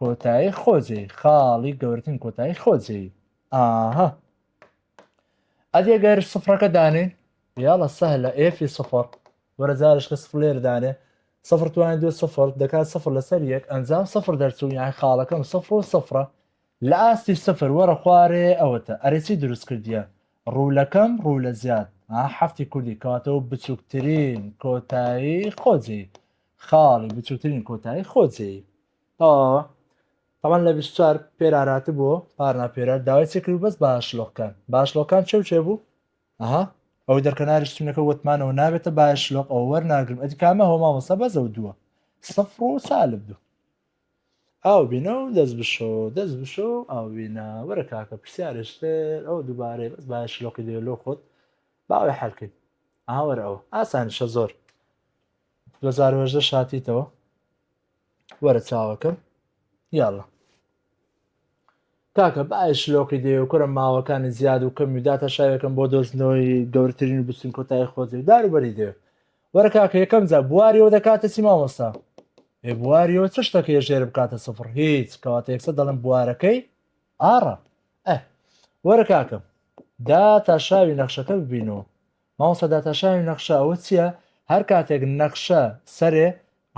کۆتایی خۆجێی خاڵی گەورتن کۆتایی خۆجێی ئاها ئەدێ گەر سفرەکە دانێ یاڵە سەه لە ئێفی سفر وەرە جارشکە سفلێر دانێ سفر توانین دوێ سفر دەکات سفر لەسەر یەک ئەنجام سفر دەرچوو یان خاڵەکەم سفر و سفرە لە ئاستی سفر وەرە خوارێ ئەوەتە ئەرێکی دروست کردیە ڕوولەکەم ڕوو لە زیاد هەفتی کوردی کاتەوە بچووکترین کۆتایی خۆجێی خاڵی بچووترین کۆتایی خۆ جێی تەواوە تەوان لە 24 پێرارات بۆ پارنا پێرار داوای چێکرد و بەس باشلۆکان باشلۆکان چێ و چێ بوو ئەها ئەو دەرکەناری شتونەکە وتمانەوە نابێتە باشلۆک ئەو وەرناگرم ئەدی کامە هۆما وەسە بەزە و دووە سفر و سالب دوو ئاو بینە و دەست بشۆ دەست بشۆ و ئاوینە وەرە کاکە پرسیارشتر ئەو دووبارەی بەس باشلۆکی دێ لۆ خۆت باوەی حەلکەیت ئاوەرەوە ئاسانیشە زۆر 2018 هاتیتەوە وەرە چاوەکەم یاڵە کاکە باە شلۆقی دێ و کورە ماوەکانی زیاد و کەمی داتە شاوێکم بۆ دۆستنەوەی گەورترین و بچین کۆتای خۆزی داروبەری دێ وەرە کاکە یەکەم جا بواریەوە دەکاتە چی مامۆستا ئێ بواریەوە چ شتەکە ژێر بکاتە سفر هیچ کەواتە یەکسە دەڵم بوارەکەی ئاڕە ئە وەرە کاکەم دا تا شاوی نەخشەکە ببینەوە مامۆستا داتاشاوی نەخشە ئەوە چیە؟ هەر کاتێک نەخشە سەرێ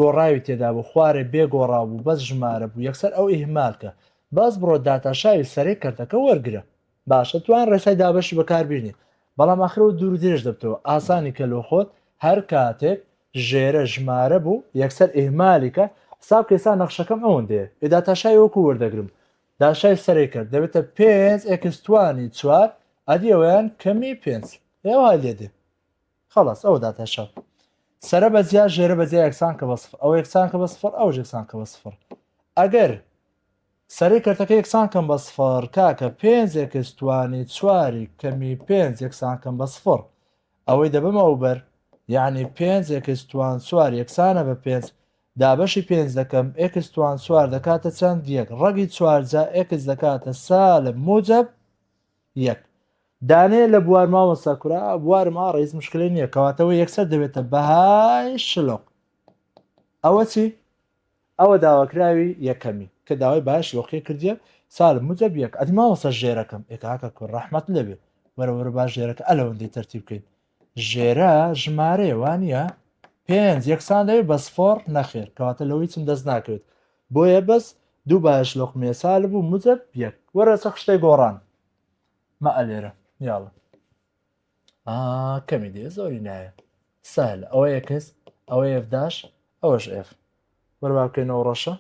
گۆڕاوی تێدا بوو خوارێ بێ گۆڕاو بوو بەس ژمارە بوو یەکسەر ئەو ئیهمال کە بەس بڕۆ داتاشاوی سەرێ کەرتەکە وەرگرە باشە توان ڕێسای دابەشی بەکار بینی بەڵام ئاخرەوە دوور درێژ دەبتەوە ئاسانی کە لۆ خۆت هەر کاتێک ژێرە ژمارە بوو یەکسەر ئیهمالی کە حساب کە ئێستا نەخشەکەم ئەوەندەیە ئێ داتاشاوی وەکو وەردەگرم داشای سەرێ کرد دەبێتە پێنج ئێکس توانی چوار ئەدی ئەویان کەمی پێنج هێ وای لێ دێ خلاص ئەوە داتاشا سەرە بە جیا ژێرە بە جیا یەکسان کە بە سفر ئەو یەکسان کە بە سفر ئەو یەکسان کە بە سفر ئەگەر سەری کەرتەکە یەکسان کەم بە سفر کاکە پێنج ئێکس توانی چواری کەمی پێنج یەکسان کەم بە سفر ئەوەی دەبمە ئەو بەر یعنی پێنج ئێکس توان چوار یەکسانە بە پێنج دابەشی پێنج دەکەم ئێکس توان چوار دەکاتە چەند یەک ڕەگی چوار جا ئێکس دەکاتە سالب موجب یەک دانێ لە بوار مامۆستا کورا بوارم ئا ڕیز مشکلی نییە کەواتەوە یەکسەر دەبێتە بەهای شلۆق ئەوە چی ئەوە داواکراوی یەکەمی کە داوای باش لۆقی کردیە سال مجە بیەک ئەدی ماوەسە ژێرەکەم ئێکاکە کورد ڕحمەت لەبێ وەرەوەرە باش ژێرەکە ئەلەوەندەی تەرتیب بکەین ژێرە ژمارەیە وانە پێنج یەکسان دەوێت بە سفۆڕ نەخێر کەواتە لەوەی چم دەست ناکەوێت بۆیە بەس دوو باش لۆق مێسال بوو مجە یەک وەرە چە خشتەی گۆڕان مە ئەلێرە یاڵە کەمی دێ زۆری نایە سەهل ئەوە یەکەس ئەوە ئێفداش ئەوەش ئێف وەر وا بکەین ئەو ڕەشە.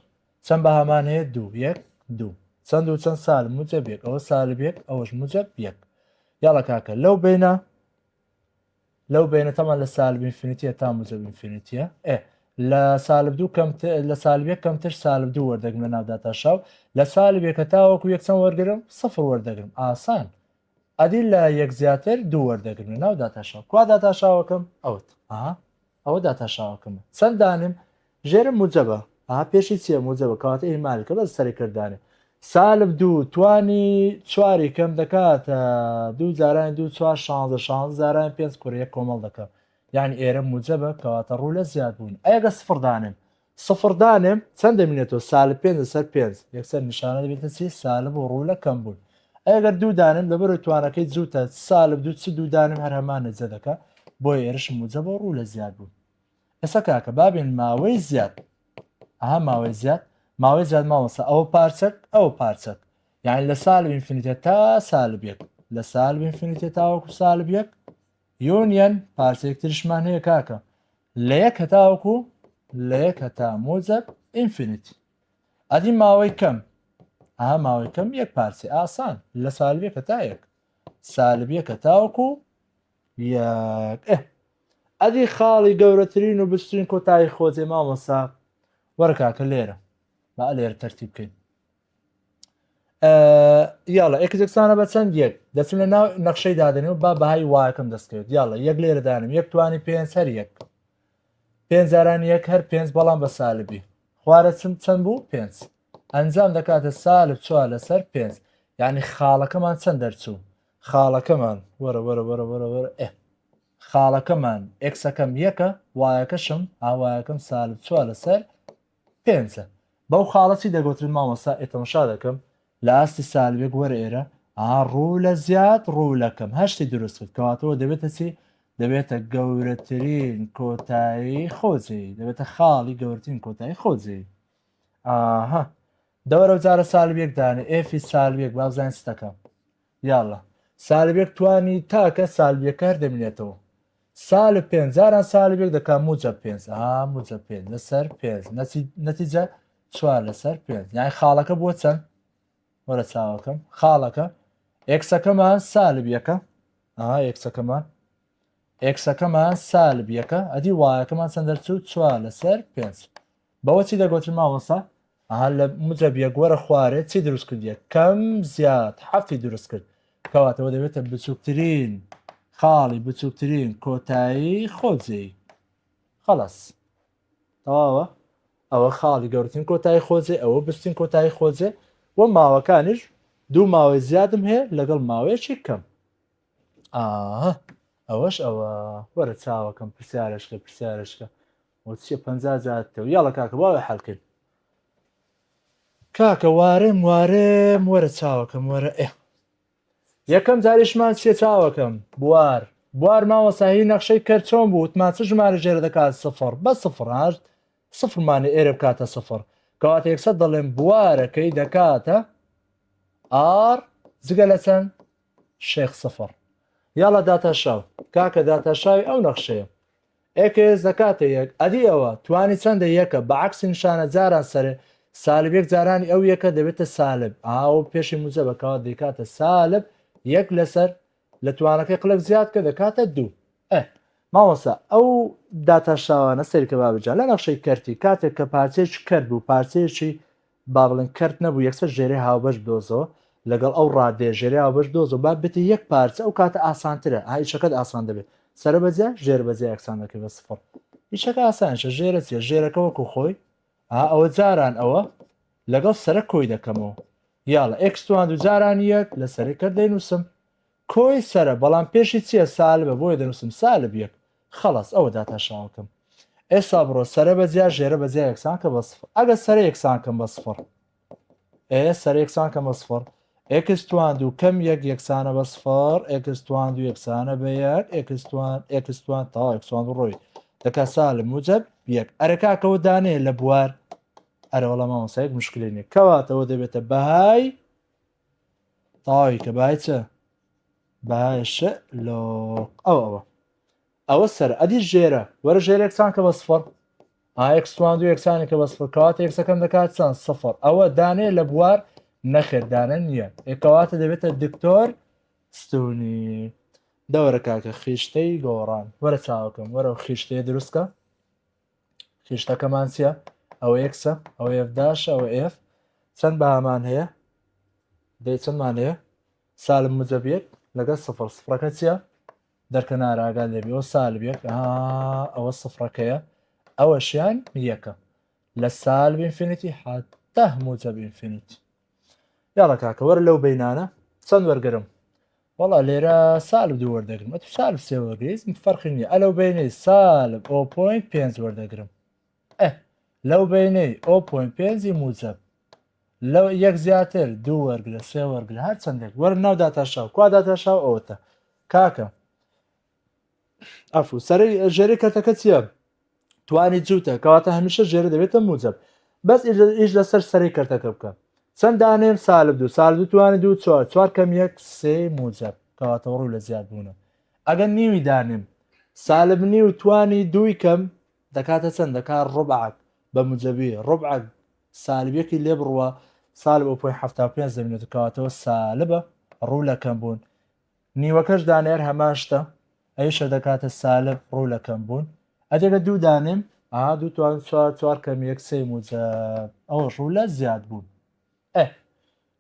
چەند بەهامان هەیە؟ دوو. یەک، دوو. چەند و چەند سالب موجب یەک. ئەوە سالب یەک، ئەوەش موجب یەک. یاڵە کاکە لەو بینە لەو بینە تەمان لە سالب ئینفینیتیە تا موجب ئینفینیتیە ئێ لە سالب دوو کەم لە سالبێک کەمتر سالب دوو وەردەگرم لە ناوداتا شاو لە سالبێکە تاوەکو یەکچەند وەرگرم سفر وەردەگرم ئاسان ئەدی لە یەک زیاتر دوو وەردەگرم لە ناو داتاشاو کوا داتاشاوەکەم ئەوت ئەها ئەوە داتاشاوەکەمە چەند دانێم ژێرم موجەبە ئەها پێشی چیە موجەبە کەواتە ئیهمالکە بەس سەرێ کردانێ سالب دوو توانی چواری کەم دەکاتە دوو جارانی دوو چوار شانزە شانزە جارانی پێنج کورەیە کۆمەڵ دەکەم یعنی ئێرە موجەبە کەواتە ڕوو لە زیاد بوون ئەگە سفر دانێم سفر دانێم چەند دەمینێتەوە سالب پێنج لەسەر پێنج یەکسەر نیشانە دەبێتە چی سالب و ڕوو لە کەم بوون ئەگەر دوو دانێم لەبەرو توانەکەی جووتە سالب دوو چ دوو دانم هەر هەمان نەجە دەکە بۆی ئێرشم موجە بۆ ڕوو لە زیاد بوون ئێستا کاکە بابێن ماوەی زیاد ئەها ماوەی زیاد ماوەی زیاد ماوەسە ئەوە پارچەک ئەوە پارچەک یعنی لە سالب ئینفینیتە تا سالب یەک لە سالب ئینفینیتە تاوەکو سالب یەک یۆنیەن پارچەیەک ترشمان هەیە کاکە لە یەک هەتاوەکو لە یەک هەتا مۆجەب ئینفینیت ئەدی ماوەی کەم ئا ماوەی کەم یەک پارچە ئاسان لە سالبیە کە تا یەک سالبیە کە تاوەکو ئەدی خاڵی گەورەترین و بچترین کۆتایی خۆجێ مامۆسا وەرکاکە لێرە با لێرە تەرتی بکەین یاڵە ئێک جەکسانە بە چەند یەک دەچم لە ناو نەخشەی دادنێ و با بەهای وایەکەم دەستکرد یاڵە یەک لێرەدانم یەک توانی پێنج هەر یەک پێنج جاران یەک هەر پێنج بەڵام بە سالبی خوارە چم چەند بوو پێنج ئەنجام دەکاتە سالب چوار لەسەر پێنج یعنی خاڵەکەمان چەند دەرچوو خاڵەکەمان وەرە وەرە وەرە وەرە وەرە ئێ خاڵەکەمان ئێکسەکەم یەکە وایەکەشم ئاوایەکەم سالب چوار لەسەر پێنجە، بەو خاڵە چی دەگۆترێت مامۆستا ئێ تەمشا دەکەم لە ئاستی سالبێک وەرە ئێرە ئاها ڕوو لە زیاد ڕوو لە کەم هەشتی دروست کرد کەواتەوە دەبێتە چی دەبێتە گەورەترین کۆتایی خۆجێی دەبێتە خاڵی گەورترین کۆتایی خۆجێی ئاها دەوەرە جارە سالبێک دانێ ئێفی سالبێک بابزانین ستەکەم یااللە سالبێک توانی تاکە سالبیەکە هەر دەمینێتەوە سالب پێنج جاران سالبێک دەکا موجە پێنج ئا موجە پێنج لەسەر پێنج نەتیجە چوار لەسەر پێنج یان خاڵەکە بۆ چەند وەرە چاوەکەم خاڵەکە ئێکسەکەمان سالب یەکە ئەها ئێکسەکەمان ئێکسەکەمان سالب یەکە ئەدی وایەکەمان چەند دەرچوو چوار لەسەر پێنج بەوە چی دەگۆتن مامۆستا؟ ئەها لە مجەب یەک وەرە خوارێ چی دروست کرد یەک کەم زیاد حەفتی دروست کرد کەواتەوە دەبێتە بچووکترین خاڵی بچووکترین کۆتایی خۆجێی خلاص تەواوە ئەوە خاڵی گەورتن کۆتایی خۆجێ ئەوە بستین کۆتایی خۆجێ و ماوەکانیش دوو ماوەی زیادم هەیە لەگەڵ ماوەیەکی کەم ئەوەش ئەوە وەرە چاوەکەم پرسیارشکە پرسیارشکە وەچیە پەنجا جار تەو یاڵە کاکە باوە حەل کرد کاکە وارێم وارێم وەرە چاوەکەم وەرە ئێ یەکەم جاریشمان چێ چاوەکەم بوار بوار ماوە ساهی نەخشەی کەرچۆن بوو وتمان چ ژمارە ژێرە دەکات سفر بە سفر هەشت سفرمانی ئێرە بکاتە سفر کەواتە یەکسەر دەڵێن بوارەکەی دەکاتە ئار جگە لە چەند شێخ سفر یاڵە داتاشاو کاکە داتاشاوی ئەو نەخشەیە ئێکس دەکاتە یەک ئەدی ئەوە توانی چەندە یەکە بە عەکسی نیشانە جاران سەرێ سالب یەک جارانی ئەو یەکە دەبێتە سالب ئا ئەوە پێشی موجەبە کەوات دەیکاتە سالب یەک لەسەر لە توانەکەی قلەک زیاد کە دەکاتە دوو ئە ماوەسا ئەو داتا شاوانە سەیرکە بابجان لە نەخشەی کەرتی کاتێک کە پارچەیەکی کەرت بوو پارچەیەکی با بڵێن کەرت نەبوو یەکسەر ژێرەی هاوبەش بدۆزەوە لەگەڵ ئەو ڕادەیە ژێرەی هاوبەش بدۆزەوە با بێتە یەک پارچە ئەو کاتە ئاسانترە ئا ئیشەکەت ئاسان دەبێت سەرە بە جیا ژێر بە جیا یەکسان دەکەی بە سفڕ ئیشەکە ئاسانشە ژێرە چیە ژێرەکە وەکو خۆی ئا ئەوە جاران ئەوە لەگەڵ سەرە کۆی دەکەمەوە یاڵە ئێکستوان دوو جاران یەک لە سەرەکە دەینووسم کۆی سەرە بەڵام پێشی چیە سالبە بۆیە دەنوسم سالب یەک خەڵەس ئەوە داتاشاوەکەم ئێستا بڕۆ سەرە بە جیا ژێرە بە جیا یەکسان کە بە سفر ئەگە سەرە یەکسان کەم بە سفر ئێ سەرە یەکسان کەم بە سفر ئێکس توان دوو کەم یەک یەکسانە بە سفر ئێکس توان دوو یەکسانە بە یەک ئێکس توان ئێکس توان تاوا یەکسان دوو ڕۆی دەکا سالب موجب یەک ئەرە کاکەوە دانێ لە بوار ئەرەوەڵە مامۆسایەک مشکلێنێ کەواتەوە دەبێتە بەهای تاوی کە بای چە بایش لۆ ئەو ئەوە ئەوە سەر ئەدی ژێرە وەرە ژێرێکسان کە بە سفر ئاکسوان دوو یەکسانی کە بە سفر کات یەکسەکەم دەکات چەند سفر ئەوە دانێ لە بوار نەخێدانە نییە ئێکەواتە دەبێتە دکتۆر ستونی دەوەرە کاکە خیشتەی گۆڕان وەرە چاوەکەم وەرە خیشتەیە دروستکە خشتەکەمان چیە ئەوە یەکسە ئەوە یەفداشە ئەوە ئێف چەند بەهامان هەیە دەی چەندمان هەیە سالم مجەبیت لەگەڵ سفر سفرەکە چیە دەرکە ناراگا لێبیەوە سالبێک ئەوە سفرەکەیە ئەوەشیان یەکە لە سالب ئینفینیتی حتا موجەب ئینفینیتی یاڵە کاکە وەرە لەو بینانە چەند وەرگرم وڵا لێرە سالب دوو وەردەگرم ئە تو سالب سێ وەرگیزم فەرقی نیە ئەلەو بینەی سالب ئەو پوینت پێنج وەردەگرم ئە لەو بینەی ئەو پوینت پێنجی موجب لەو یەک زیاتر دوو وەرگرە سێ وەرگرە هەر چندێک وەر ناو داتاشاو کوا داتاشاو ئەوتە کاکە ئەفو سەرەی ژێری کەرتەکە چییە توانی جووتە کەواتە هەمیشە ژێرە دەبێتە موجب بەس ئیش لەسەر سەری کەرتەکە بکە چەند دانێم سالب دوو سال دوو توانانی دوو چوار چوار کەم یەک سێ موجب کەواتە ڕوو لە زیاد بوونە ئەگەر نیوی دانێم سالب نیو توانی دووی کەم دەکاتە چەند دەکات ڕبعات بە مجەبی ڕبعات سالبیەکی لێ بڕوە سالب ئەو پوی هەفتا پێ زمینەتە کەواتەوە سالبە ڕوو لەکەم بوون نیوەکەش دانەیەر هەمان شتە ئەویشە دەکاتە سالب ڕوو لە کەم بوون ئەدێگە دوو دانێم ئا دوو توان چوار چوار کەم یەک سێ موجب ئەوە ڕوو لە زیاد بوون ئە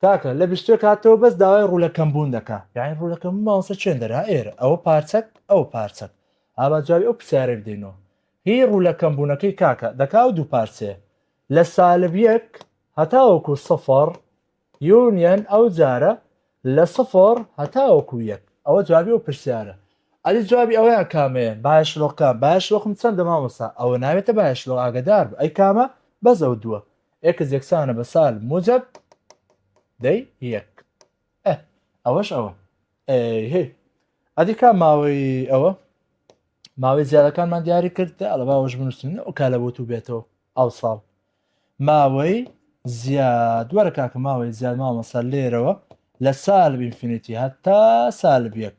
کاکە لە بیستێک هاتەوە بەس داوای ڕوو لە کەم بوون دەکا یعنی ڕوو لە کەم ماوسە چێن دەرا ئێرە ئەوە پارچەک ئەو پارچەک ئابا جوابی ئەو پرسیارە بدەینەوە هی ڕوو لە کەم بوونەکەی کاکە دەکا و دوو پارچەیە لە سالب یەک هەتاوەکو سەفەڕ یونیەن ئەو جارە لە سفر هەتاوەکو یەک ئەوە جوابی ئەو پرسیارە ئەدی جوابی ئەوەیان کامەیە بایە شلۆق کام بایە شلۆقم چەندە مامۆستا ئەوە ناوێتە بایە شلۆق ئاگەدار بە ئەی کامە بەس ئەو دووە ئێکس یەکسانە بە سال موجب دەی یەک ئەوەش ئەوە هی ئەدی کا ماوەی ئەوە ماوەی زیادەکانمان دیاری کرد ئەڵە باوەش بنووسین ئەو کالە بۆ تو بێتەوە ئەو ساڵ ماوەی زیاد وەرە کاکە ماوەی زیاد مامۆستا لێرەوە لە سالب ئینفینیتی هەتا سالب یەک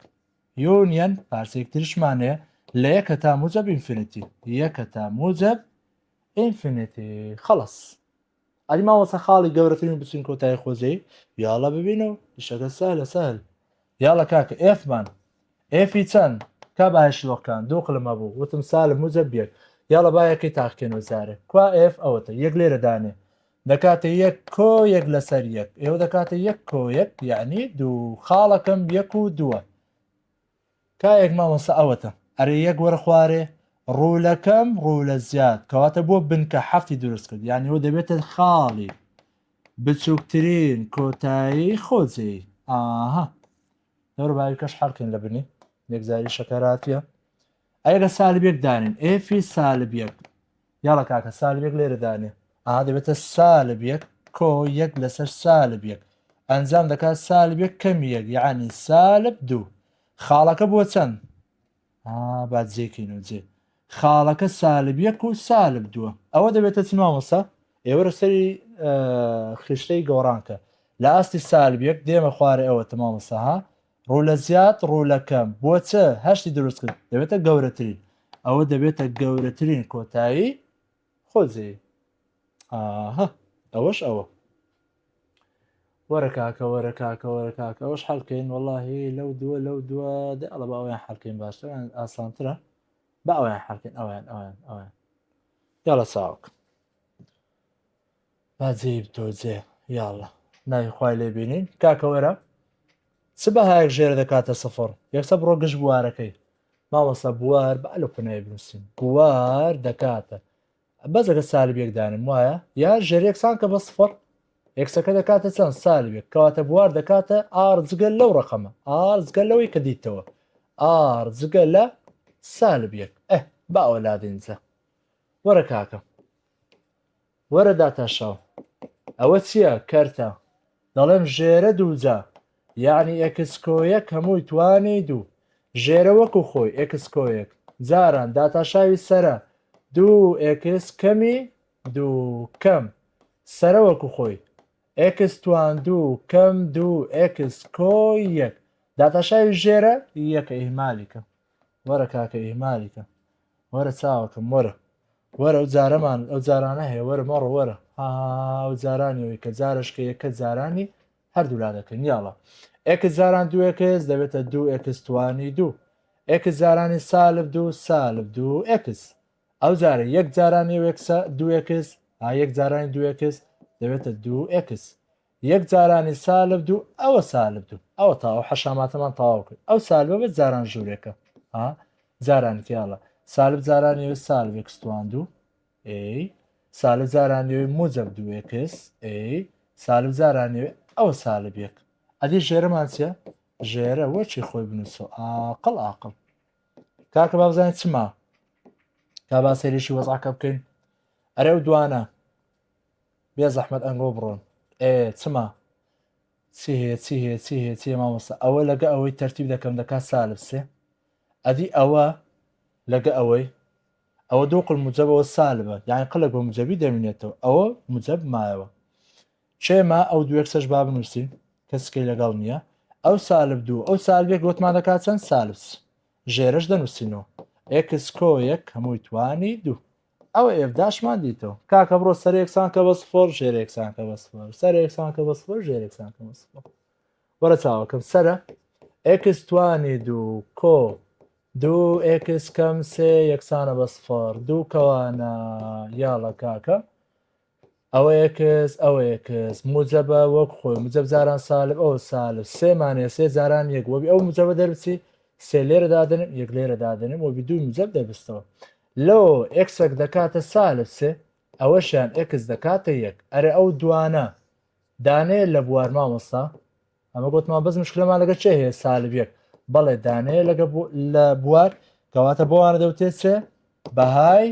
یونیەن پارچەیەک تریشمان هەیە لە یەک هەتا موجب ئینفینیتی یەک هەتا موجب ئینفینیتی خلاص ئەلی مامۆستا خاڵی گەورەترین بچین کۆتای خۆجێی یاڵە ببینەوە شەکە سالە سال یاڵە کاکە ئێفمان ئێفی چەن کا با شلۆق کان دوو قلم هەبوو وتم سالم موجە بیەک یاڵە با یەکەی تاقکێنەوە جارێ کوا ئێف ئەوەتە یەک لێرە دانێ دەکاتە یەک کۆ یەک لەسەر یەک ئێوە دەکاتە یەک کۆ یەک یعنی دوو خاڵەکەم یەک و دووە کایەک مامۆستا ئەوەتە ئەرێ یەک وەرە خوارێ ڕوولەکەم ڕوو لە زیاد کەواتە بۆ بنکە حەفتی دروست کرد یانیەوە دەبێتە خاڵی بچوکترین کۆتایی خۆجێی ئاها دەور باویکەش حەڵکن لە بنی یەکجاری شەکەراتە ئەگە سالبێک دانین ئێفی سالبیەک یاڵە کاکە سالبێک لێرە دانێ ئاها دەبێتە سالبیەک کۆ یەک لەسەر سالبیەک ئەنجام دەکات سالبێک کەم یەک یعنی سالب دوو خاڵەکە بۆ چەند با جێکەین و جێ خاڵەکە سالب یەک و سالب دووە ئەوە دەبێتە چ مامۆسا ئێوەرە سەری خشتەی گۆڕانکە لە ئاستی سالب یەک دێمە خوارێ ئەوە تەمامەسەها ڕوو لە زیاد ڕوو لە کەم بۆ چ هەشتی دروست کرد دەبێتە گەورەترین ئەوە دەبێتە گەورەترین کۆتایی خۆزێ ئاهە ئەوەش ئەوە وەرە کاکە وەرە کاکە وەرە کاکە ئەوەش حەلکەین وەڵاهی لەو دووە لەو دووە دە ئەڵە باوەیان حەلکەین باشتران ئاسانترە با ئەویان حەلکەین ئەویان ئەویان ئەویان یاڵە چاوک باجێ تۆجێ یاڵە ناوی خوای لێ بینین کاکە وەرە چ بەهایەک ژێر دەکاتە سفر یەکسە بڕۆ گشت بوارەکەی مامۆستا بوار با لە کۆناوی بنووسین بوار دەکاتە بەس دەکە سالب یەک دانم وایە یا ژێر یەکسان کە بە سفر یەکسەکە دەکاتە چەند سالب یەک کەواتە بوار دەکاتە ئار جگە لەو ڕقەمە ئار جگە لەوەی کە دیتەوە ئار جگە لە سالب یەک ئە باوە لادینجە وەرە کاکە وەرە داتاشاو ئەوە چیە کەرتە دەڵێم ژێرە دووجا یەعنی ئێکس کۆیەک هەمووی توانی دوو ژێرە وەکو خۆی ئێکس کۆیەک جاران داتاشاوی سەرە دوو ئێکس کەمی دوو کەم سەرە وەکو خۆی ئێکس توان دوو کەم دوو ئێکس کۆ یەک داتاشاوی ژێرە یەکە ئیهمالی کە وەرە کاکە ئیهمالی کە وەرە چاوەکەم وەرە وەرە ئەو جارەمان ئەو جارانە هەیە وەرە مەڕە وەرە ئەو جارانی ئەوی کە جارشکە یەکە جارانی هەردوولا دەکەن یاڵە ئێک جاران دووەکەس دەبێتە دوو ئێکستوانی دوو ئێک جارانی سالب دوو سالب دوو ئێکس ئەو جارە یەک جارانی وێکسە دووەکەس ئا یەک جارانی دووەکەس دەبێتە دوو ئێکس یەک جارانی سالب دوو ئەوە سالب دوو ئەوە تاوە حەشاماتەمان تەواو کرد ئەو سالبە بە جاران ژوورێکە ها جارانی تیاڵە سالب جارانی وە سالێکستوان دوو ئەی سالب جارانی موجب دووێکس ئەی سالب جارانی ئەوە سالب یەک ئەدی ژێرەمان چە ژێرە وەچی خۆی بنووسە ئاقل ئاقل کاکە بابزانین چما تا با سێریشی وەزعکە بکەین ئەرێ و دوانە بێزەحمەت ئەنگۆ بڕۆن. ئێ چما چی هەیە چی هەیە چی هەیە چی مامۆستا ئەوە لەگە ئەوەی تەرتیب دەکەم دەکات سالب سێ ئەدی ئەوە لەگە ئەوەی ئەوە دوو قل مجەبەوە سالبە یان قلەک بە مجەبی دەمینێتەوە ئەوە مجەب مایەوە چێما ئەو دوێک سەش با بنووسین کەسکەی لەگەڵ نییە ئەو سالب دوو ئەو سالبێک گوتمان دەکات چەند سالس ژێرش دەنووسینەوە ئێکس کۆ یەک هەمووی توانی دوو ئەوە ئێڤداشمان دیتەوە کاکە بڕۆ سەر یەکسان کە بە سفۆر ژێر یەکسان کە بە سفۆر سەر یەکسان کە بە سفۆر ژێر یەکسان کە بە سفۆر وەرە چاوەکەم سەرە ئێکس توانی دوو کۆ دوو ئێکس کەم سێ یەکسانە بە سفۆر دوو کەوانە یاڵە کاکە ئەوەیە کز ئەوەیە کز موجەبە وەک خۆی مجەب جاران سالب ئەو سالب سێ مانێ سێ جاران یەک وەبی ئەو مجەبە دەربچی سێ لێرە دادنم یەک لێرە دادنم وەبی دوو مجەب دەبستەوە لۆ ئەکسەک دەکاتە سالب سێ ئەوەشیان ئەکس دەکاتە یەک ئەرێ ئەو دوانە دانێ لە بوار مامۆستا ئەمە گوتمان بەس مشکلەمان لەگە چێ هەیە سالب یەک بەڵێ دانێ لەگە لە بوار کەواتە بۆوانە دەوتێت چێ بەهای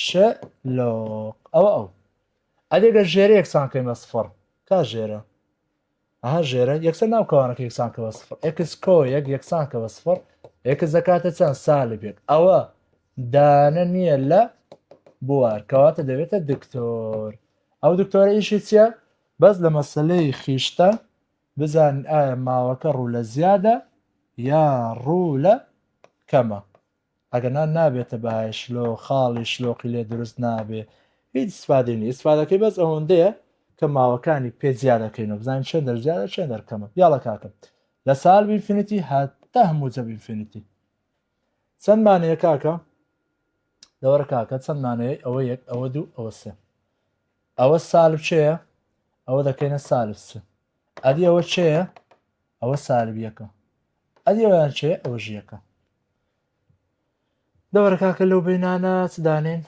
ش لۆق ئەوە ئەو ئەدێ گە ژێرە یەکسان کەمە سفڕ کا ژێرە ئەها ژێرە یەکسەر ناو کەوانەکە یەکسان کەوە سفڕ ئەکس کۆ یەک یەکسان کەوە سفڕ ئەکس دەکاتە چەند سالی بێت ئەوە دانە نییە لە بوار کەواتە دەبێتە دکتۆر ئەو دکتۆرە ئیشی چییە بەس لە مەسلەی خیشتە بزان ئایا ماوەکە ڕوو لە زیادە یا ڕوو لە کەمە ئەگەرنا نابێتە بەهای شلۆ خاڵی شلۆقی لێ دروست نابێ هیچ استفادەی نیە استفادەکەی بەس ئەوەندەیە کە ماوەکانی پێ زیادەکەینەوە بزانین چەند دەر زیادە چەند دەرکەمە یاڵە کاکەم لە سال بینفینیتی هەتا هەموو جە بینفینیتی چەند مانەیە کاکە دەوەرە کاکە چەند مانەیە ئەوە یەک ئەوە دوو ئەوە سێ ئەوە سالب چەیە ئەوە دەکەینە سالب سێ ئەدی ئەوە چەیە ئەوە سالب یەکە ئەدی ئەویان چێ ئەوەژ یەکە دەوەرە کاکە لەو بینانە چ دانێن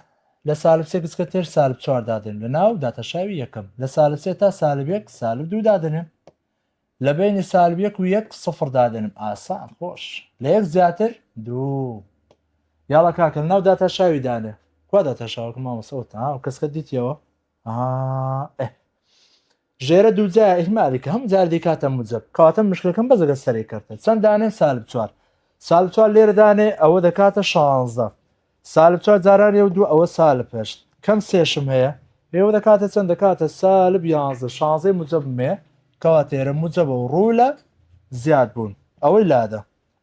لە سالب سێ گچکە تێر سالب چوار دادێن لە ناو داتەشاوی یەکەم لە سالب سێ تا سالب یەک سالب دوو دادنێن لە بینی سالب یەک و یەک سفر دادێنم ئاسان خۆش لە یەک زیاتر دوو یاڵە کاکە لە ناو داتەشاوی دانێ کوا داتەشاوەکە مامەسەوە تا کەسکە دیتیەوە ئه ژێرە دوو جا ئیهمالی کە هەموو جار دەیکاتە موجەب کەواتە مشکەکەم بەس لەگەر سەرەی کەرتە چەند دانێم سالب چوار سالب چوار لێرە دانێ ئەوە دەکاتە شانزدە سالب چوار جارانی ئەو دوو ئەوە سالب هەشت کەم سێشم هەیە ئێوە دەکاتە چەند دەکاتە سالب یانزدە شانزەی موجەب مێ کەواتە ئێرە موجەبە و ڕوو لە زیاد بوون ئەوەی لادە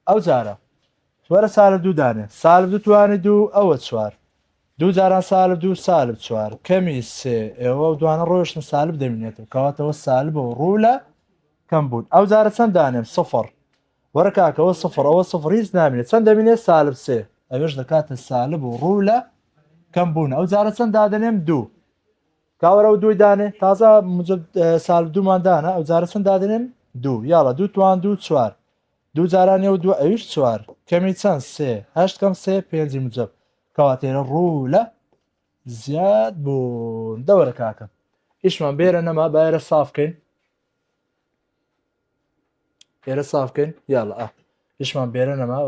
ئەو جارە وەرە سالب دوو دانێ. سالب دوو توانی دوو ئەوە چوار دوو جاران سالب دوو سالب چوار کەمی سێ ئەوە ئەو دوانە ڕۆیشتن سالب دەمینێتەوە کەواتەوە سالبە و ڕوو لە کەم بوون ئەو جارە چەند دانێم سفر وەرە کاکە ئەوە سفر ئەوە سفر هیچ نامینێت چەند دەمینێت سالب سێ ئەوێش دەکاتە سالب و ڕوو لە کەم بوون ئەو جارە چەند دادەنێم دوو کاوەرە و دووی دانێ تازە سالب دوومان دانە ئەو جارە چەند دادنێم دوو یاڵە دوو توان دوو چوار دوو جاران یەو دوو ئەویش چوار کەمی چەند سێ هەشت کەم سێ پێنجی مجەب کەواتێرە ڕوولە زیاد بوون دەوەرە کاکە ئیشمان بێرە نەما بایرە سافکەین ئێرە سافکەین یاڵە ئە ئیشمان بێرە نەما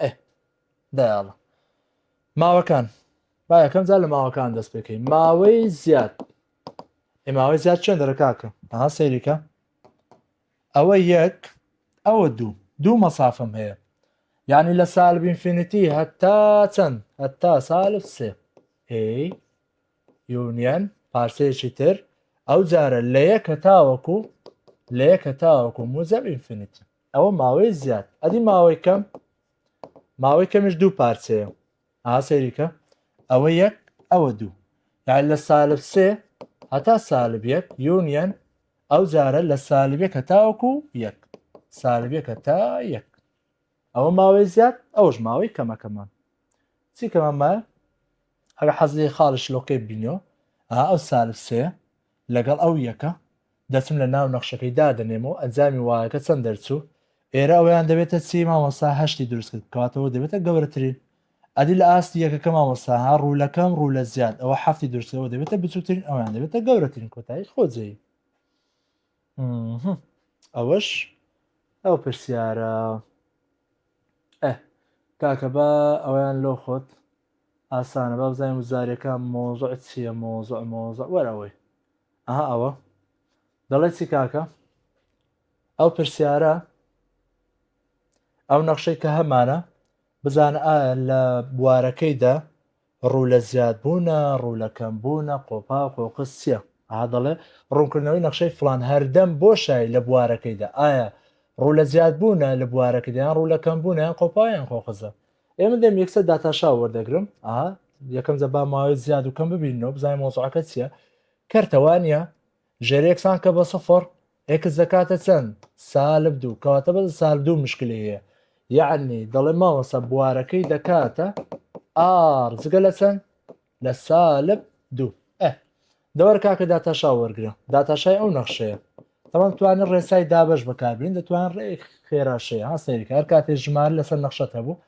ئێ دایاڵە ماوەکان با یەکەم جار لە ماوەکان دەست پێکەین ماوەی زیاد ئێماوەی زیاد چێن دەرە کاکە ئەها سەیریکە ئەوە یەک ئەوە دوو دوو مەسافم هەیە یعنی لە سالب ئینفینیتی هەتا چەند هەتا سالب سێ ئەی یونیەن پارچەیەکی تر ئەو جارە لە یەک هەتاوەکو لە یەک هەتاوەکو موجب ئینفینیتی ئەوە ماوەی زیاد ئەدی ماوەی کەم ماوەی کەمیش دوو پارچەیە ها سەیری کە ئەوە یەک ئەوە دوو یان لە سالب سێ هەتا سالب یەک یونیەن ئەو جارە لە سالبێک هەتاوەکو یەک سالبێک هەتا یەک ئەوە ماوەی زیاد ئەوش ماوەی کەمەکەمان چی کەمەمە ئەگە حەزی خاڵی شلۆکەی بینەوە ئەو سالب سێ لەگەڵ ئەو یەکە دەچم لە ناو نەخشەکەی دادەنێم و ئەنجامی وایەکە چەند دەرچوو ئێرە ئەوەیان دەبێتە چی مامۆستا هەشتی دروست کرد کەواتە ئەوە دەبێتە گەورەترین ئەدی لە ئاستی یەکەکە مامۆستا ها ڕوولەکەم ڕوو لە زیاد ئەوە حەفتی دروست ئەوە دەبێتە بچووترین ئەویان دەبێتە گەورەترین کۆتایی خۆجێی ئەوەش ئەو پرسیارە ئە کاکە بە ئەویان لۆ خۆت ئاسانە با بزانین وزاریەکان مۆزع چییە مۆزع مۆزع وەر ئەوەی ئەها ئەوە دەڵێ چی کاکە ئەو پرسیارە ئەو نەخشەی کە هەمانە بزانە ئایا لە بوارەکەیدا ڕوو لە زیاد بوونە ڕوو لە کەم بوونە قۆپا قۆقس چییە ئا دەڵێ ڕوونکردنەوەی نەخشەی فلان هەردەم بۆ شای لە بوارەکەیدا ئایا ڕوو لە زیاد بوونە لە بوارەکەدایان ڕوو لە کەم بوونیان قۆپایان خۆخزە ئێمە دەم یەکسەر داتاشا وەردەگرم ئا یەکەم جە با ماوەی زیاد و کەم ببینەوە بزای مۆزعەکە چییە کەرتەوانە ژێرێکسان کە بە سفر ئێکس دەکاتە چەند سالب دوو کەواتە بە سال دوو مشکلەیە یعنی دەڵێ ماوەسە بوارەکەی دەکاتە ئار جگە لە چەند لە سالب دوو ئە دەوەر کاکە داتاشا وەرگرە داتاشای ئەو نەخشەیە تەوان توانێت ڕێسای دابش بەکاربین دەتوان ڕێک خێراشەیە ها سەیری کار کاتێ ژمار لەسەر نەخشەت هەبوو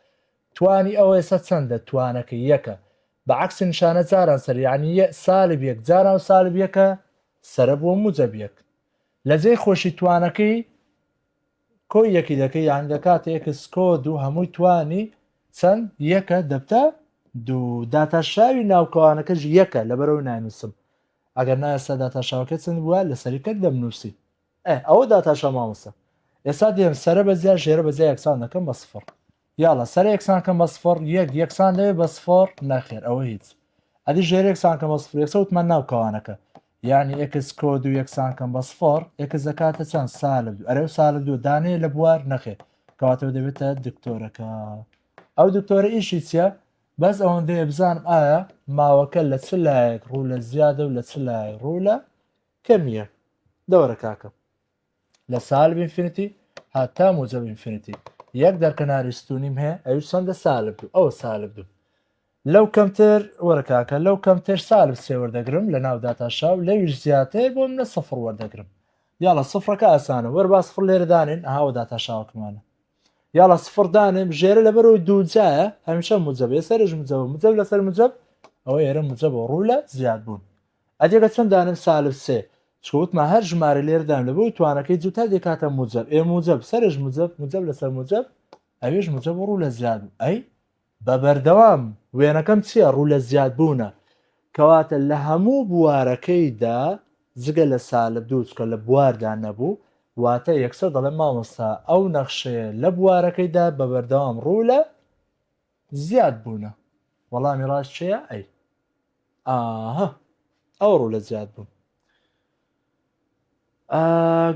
توانی ئەوە ئێستا چەندە توانەکە یەکە بە عکس نیشانە جاران سەر یعنی سالب یەک جاران و سالب یەکە سرە بووە موجەبیەک لە جێی خۆشی توانەکەی کۆی یەکی دەکەی یان لە کاتە یەکس کۆ دوو هەمووی توانی چەند یەکە دەبتە دوو داتاشاوی ناوکەوانەکەش یەکە لەبەرەوەی ناینووسم ئەگەر نایستا داتاشاوەکە چەند بووە لە سەریکەک دەمنووسی ئەوە داتاشا مامۆستا ئێستا دێم سەرە بە زیاد ژێرە بە زیاد یەکسان دەکەم بە سفر یاڵا سەرە یەکسان کەم بە سفڕ یەک یەکسان لەوێ بە سفڕ نەخێر ئەوە هیچ ئەدی ژێر یەکسان کەم بە سفڕ یەکسە وتمان ناو کەوانەکە یعنی ئێکس کۆد و یەکسان کەم بە سفڕ ئێکس دەکاتە چەند سالب دوو ئەرێ و سالب دوو دانێ لە بوار نەخێر کەواتەوە دەبێتە دکتۆرەکە ئەو دکتۆرە ئیشی چییە بەس ئەوەندەیە بزانم ئایا ماوەکە لە چ لایەک ڕوو لە زیادە و لە چ لای ڕوو لە کەمیە دەوەرە کاکە لە سالب ئینفینیتی هاتا موجب ئینفینیتی یەک دەرکەناری ستونیم هەیە ئەوش چەندە سالب دوو ئەوە سالب دوو لەو کەمتر وەرکاکە لەو کەمتر سالب سێ وەردەگرم لە ناو داتاشاو لەویش زیاتر بۆ منە سفر وەردەگرم یاڵە سفرەکە ئاسانە وەر با سفر لێرەدانێن ئاوە داتاشاوکمانە یاڵە سفر دانێم ژێرە لەبەرەوەی دووجایە هەمیشە مجبێ سەرش مجەوە مجەب لەسەر مجەب ئەوە ئێرە مجەبەوە ڕوو لە زیاد بوون ئەدێگە چەند دانێم سالب سێ چکە وتما هەر ژمارە لێر دام لە بۆی توانەکەی جوتا دێکاتە موجب ئێ موجب سەرش موجب موجب لەسەر موجب ئەوێش موجب ڕوو لە زیاد بوو ئەی بە بەردەوام وێنەکەم چییە ڕوو لە زیاد بوونە کەواتە لە هەموو بوارەکەیدا جگە لە سالب دوو چکە لە بواردا نەبوو واتە یەکسەر دەڵێ مامۆستا ئەو نەخشەیە لە بوارەکەیدا بە بەردەوام ڕوو لە زیاد بوونە وەڵامی ڕاست چێە ئەی ئاهە ئەو ڕوو لە زیاد بوون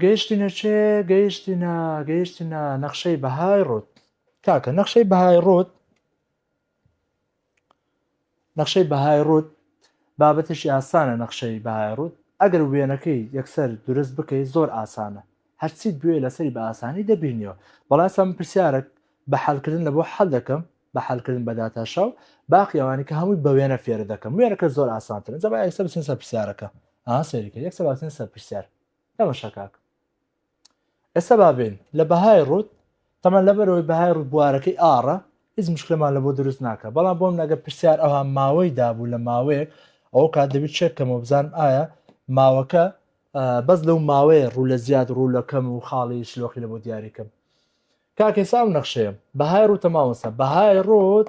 گەیشتینە چێ گەیشتینە گەیشتینە نەخشەی بەهای ڕوت کاکە نەخشەی بەهای ڕوت نەخشەی بەهای ڕووت بابەتێکی ئاسانە نەخشەی بەهای ڕووت ئەگەر وێنەکەی یەکسەر دورست بکەی زۆر ئاسانە هەر چیت بوێ لەسەری بە ئاسانی دەبینیەوە بەڵام ئێستا من پرسیارەک بە حەل کردن لە بۆ حەل دەکەم بە حەل کردن بە داتا شاو باقی ئەوانی کە هەمووی بە وێنە فێرە دەکەم وێنەکە زۆر ئاسانترن جەبا یەکسەر بچین سەر پرسیارەکە ئا سەیری کرد یەکسەر باتین سەر پرسیار نەمەشە کاک ئێستا با بێین لە بەهای ڕوت تەمان لەبەرەوەی بەهای ڕوت بوارەکەی ئاڕە هیچ مشکلەمان لە بۆ دروست ناکە بەڵام بۆم نەگە پرسیار ئەوها ماوەی دابوو لە ماوەیەک ئەو کات دەبی چێکەمەوە بزانم ئایا ماوەکە بەس لەو ماوەیە ڕوو لە زیاد ڕوو لەکەم و خاڵی شلۆخی لە بۆ دیاریکەم کاکەسا و نەخشەیە بەهای ڕوتە ماوەسە بەهای ڕۆت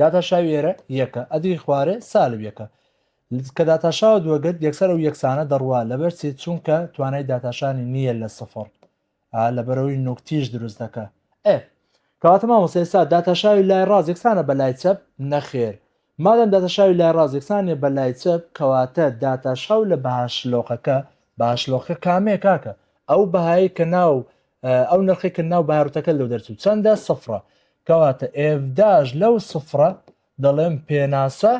داتاشاوی ئێرە یەکە ئەدری خوارێ سالب یەکە کە داتاشاوە دووەگەت یەکسەر و یەکسانە دەڕوا لەبەرچی چونکە توانای داتاشانی نییە لە سفر لەبەرەوەی نوکتیش دروست دەکە ئێ کەواتە مامۆستا ئێستا داتاشاوی لای ڕاز یەکسانە بە لای چەپ نەخێر مادەم داتاشاوی لای ڕاز یەکسانە بە لای چەپ کەواتە داتاشاو لە بەهاشلۆقەکە باشلۆقە کامێ کاکە ئەو بەهایی کە ناو ئەو نرخی کە ناو بارتەکە لەو دەرچوو چەندە سفرە کەواتە ئێڤداش لەو سفرە دەڵێم پێناسە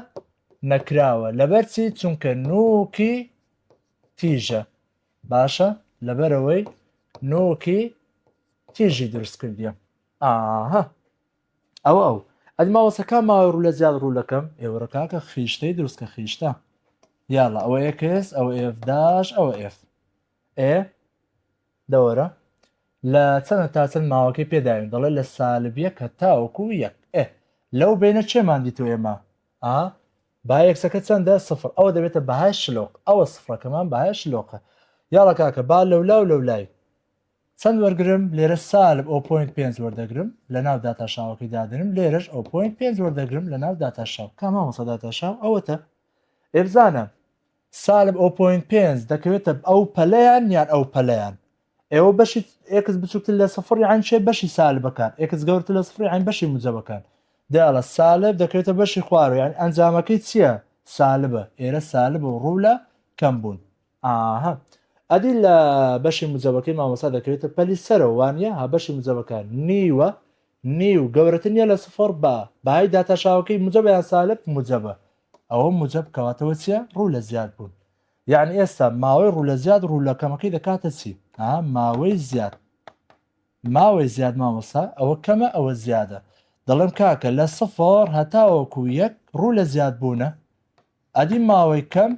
نەکراوە لەبەرچی چونکە نوکی تیژە باشە لەبەرەوەی نوکی تیژی دروست کردیم ئاها ئەو ئەو ئەدماوەسەکە ماوە ڕوو لە زیاد ڕوو لەکەم ئێوەڕکاکە خیشتەی دروستکە خیشتە یاڵە ئەوە ئێکس ئەو ئێفداش ئەوە ئێف ئێ دەوەرە لە چەنە تا چەن ماوەکەی پێ داوین دەڵێ لە سالب یەک هەتاوەکو یەک ئێ لەو بەینە چێمان دیتوە ئێمە ئا با یەکسەکە چەندە سفر ئەوە دەبێتە بەهای شلۆق ئەوە سفرەکەمان بەهای شلۆقە یاڵە کاکە با لەولا و لەولای چەند وەرگرم لێرە سالب ئەو پوینت پێنج وەردەگرم لە ناو داتاشاوەکەی دادنم لێرەش ئەو پوینت پێنج وەردەگرم لە ناو داتاشاو کامامەسە داتاشاو ئەوەتە ئێبزانە سالب ئۆ پۆینت پێنج دەکەوێتە ئەو پەلەیان یان ئەو پەلەیان ئێوە بەشی ئێکس بچووکتر لە سفڕی عین چێ بەشی سالبەکان ئێکس گەورتر لە سفڕی عین بەشی موجەبەکان دەیاڵە سالب دەکەوێتە بەشی خوارەوە یان ئەنجامەکەی چییە سالبە ئێرە سالب و ڕوو لە کەم بوون ئاها ئەدی لە بەشی موجەبەکەی مامۆسا دەکەوێتە پەلی سەرەوە وانە ها بەشی موجەبەکان نیوە نیو گەورەتر نیە لە سفر بە بەهای داتاشاوەکەی موجەبیان سالب موجەبە ئەوە موجەب کەواتەوە چیە ڕوو لە زیاد بوون یعنی ئێستا ماوەی ڕوو لە زیاد ڕوو لە کەمەکەی دەکاتە چی ئا ماوەی زیاد ماوەی زیاد مامۆسا ئەوە کەمە ئەوە زیادە دەڵێم کاکە لە سفر هەتاوەکو یەک ڕوو لە زیاد بوونە ئەدی ماوەی کەم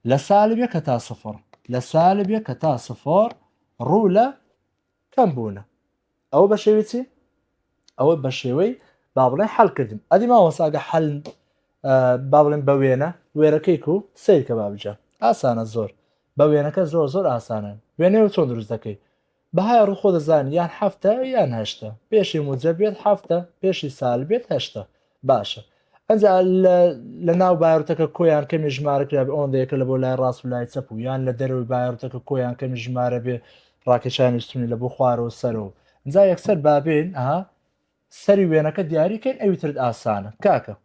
لە سالبێ کە تا سفر لە سالبێ کە تا سفر ڕوو لە کەم بوونە ئەوە بە شێوی چی ئەوە بە شێوەی با بڵێ حەلکردن ئەدی ماوەساگە حەل با بڵێن بە وێنە وێرەکەی و سیرکە بابجە ئاسانە زۆر بە وێنەکە زۆر زۆر ئاسانە وێنێ و چۆن دروست دەکەی بەهای ڕوخۆ دەزان یان هەفتە یان هەشتە پێشی موجە بێت هەفتە پێشی سال بێت هەشتە باشە ئەجا لە ناو بارتەکە کۆیان کەمی ژمارە کرا ئەوەندەیەکە لە بۆ لای ڕاست و لای چەپ و یان لە دەرەوەی بارتەکە کۆیان کەمی ژمارە بێ ڕاکێشانی ستونی لە بۆ خوارەوە سەرەوە جا یەکسەر بابێن ئەها سەری وێنەکە دیاریکەین ئەوی ترت ئاسانە کاکە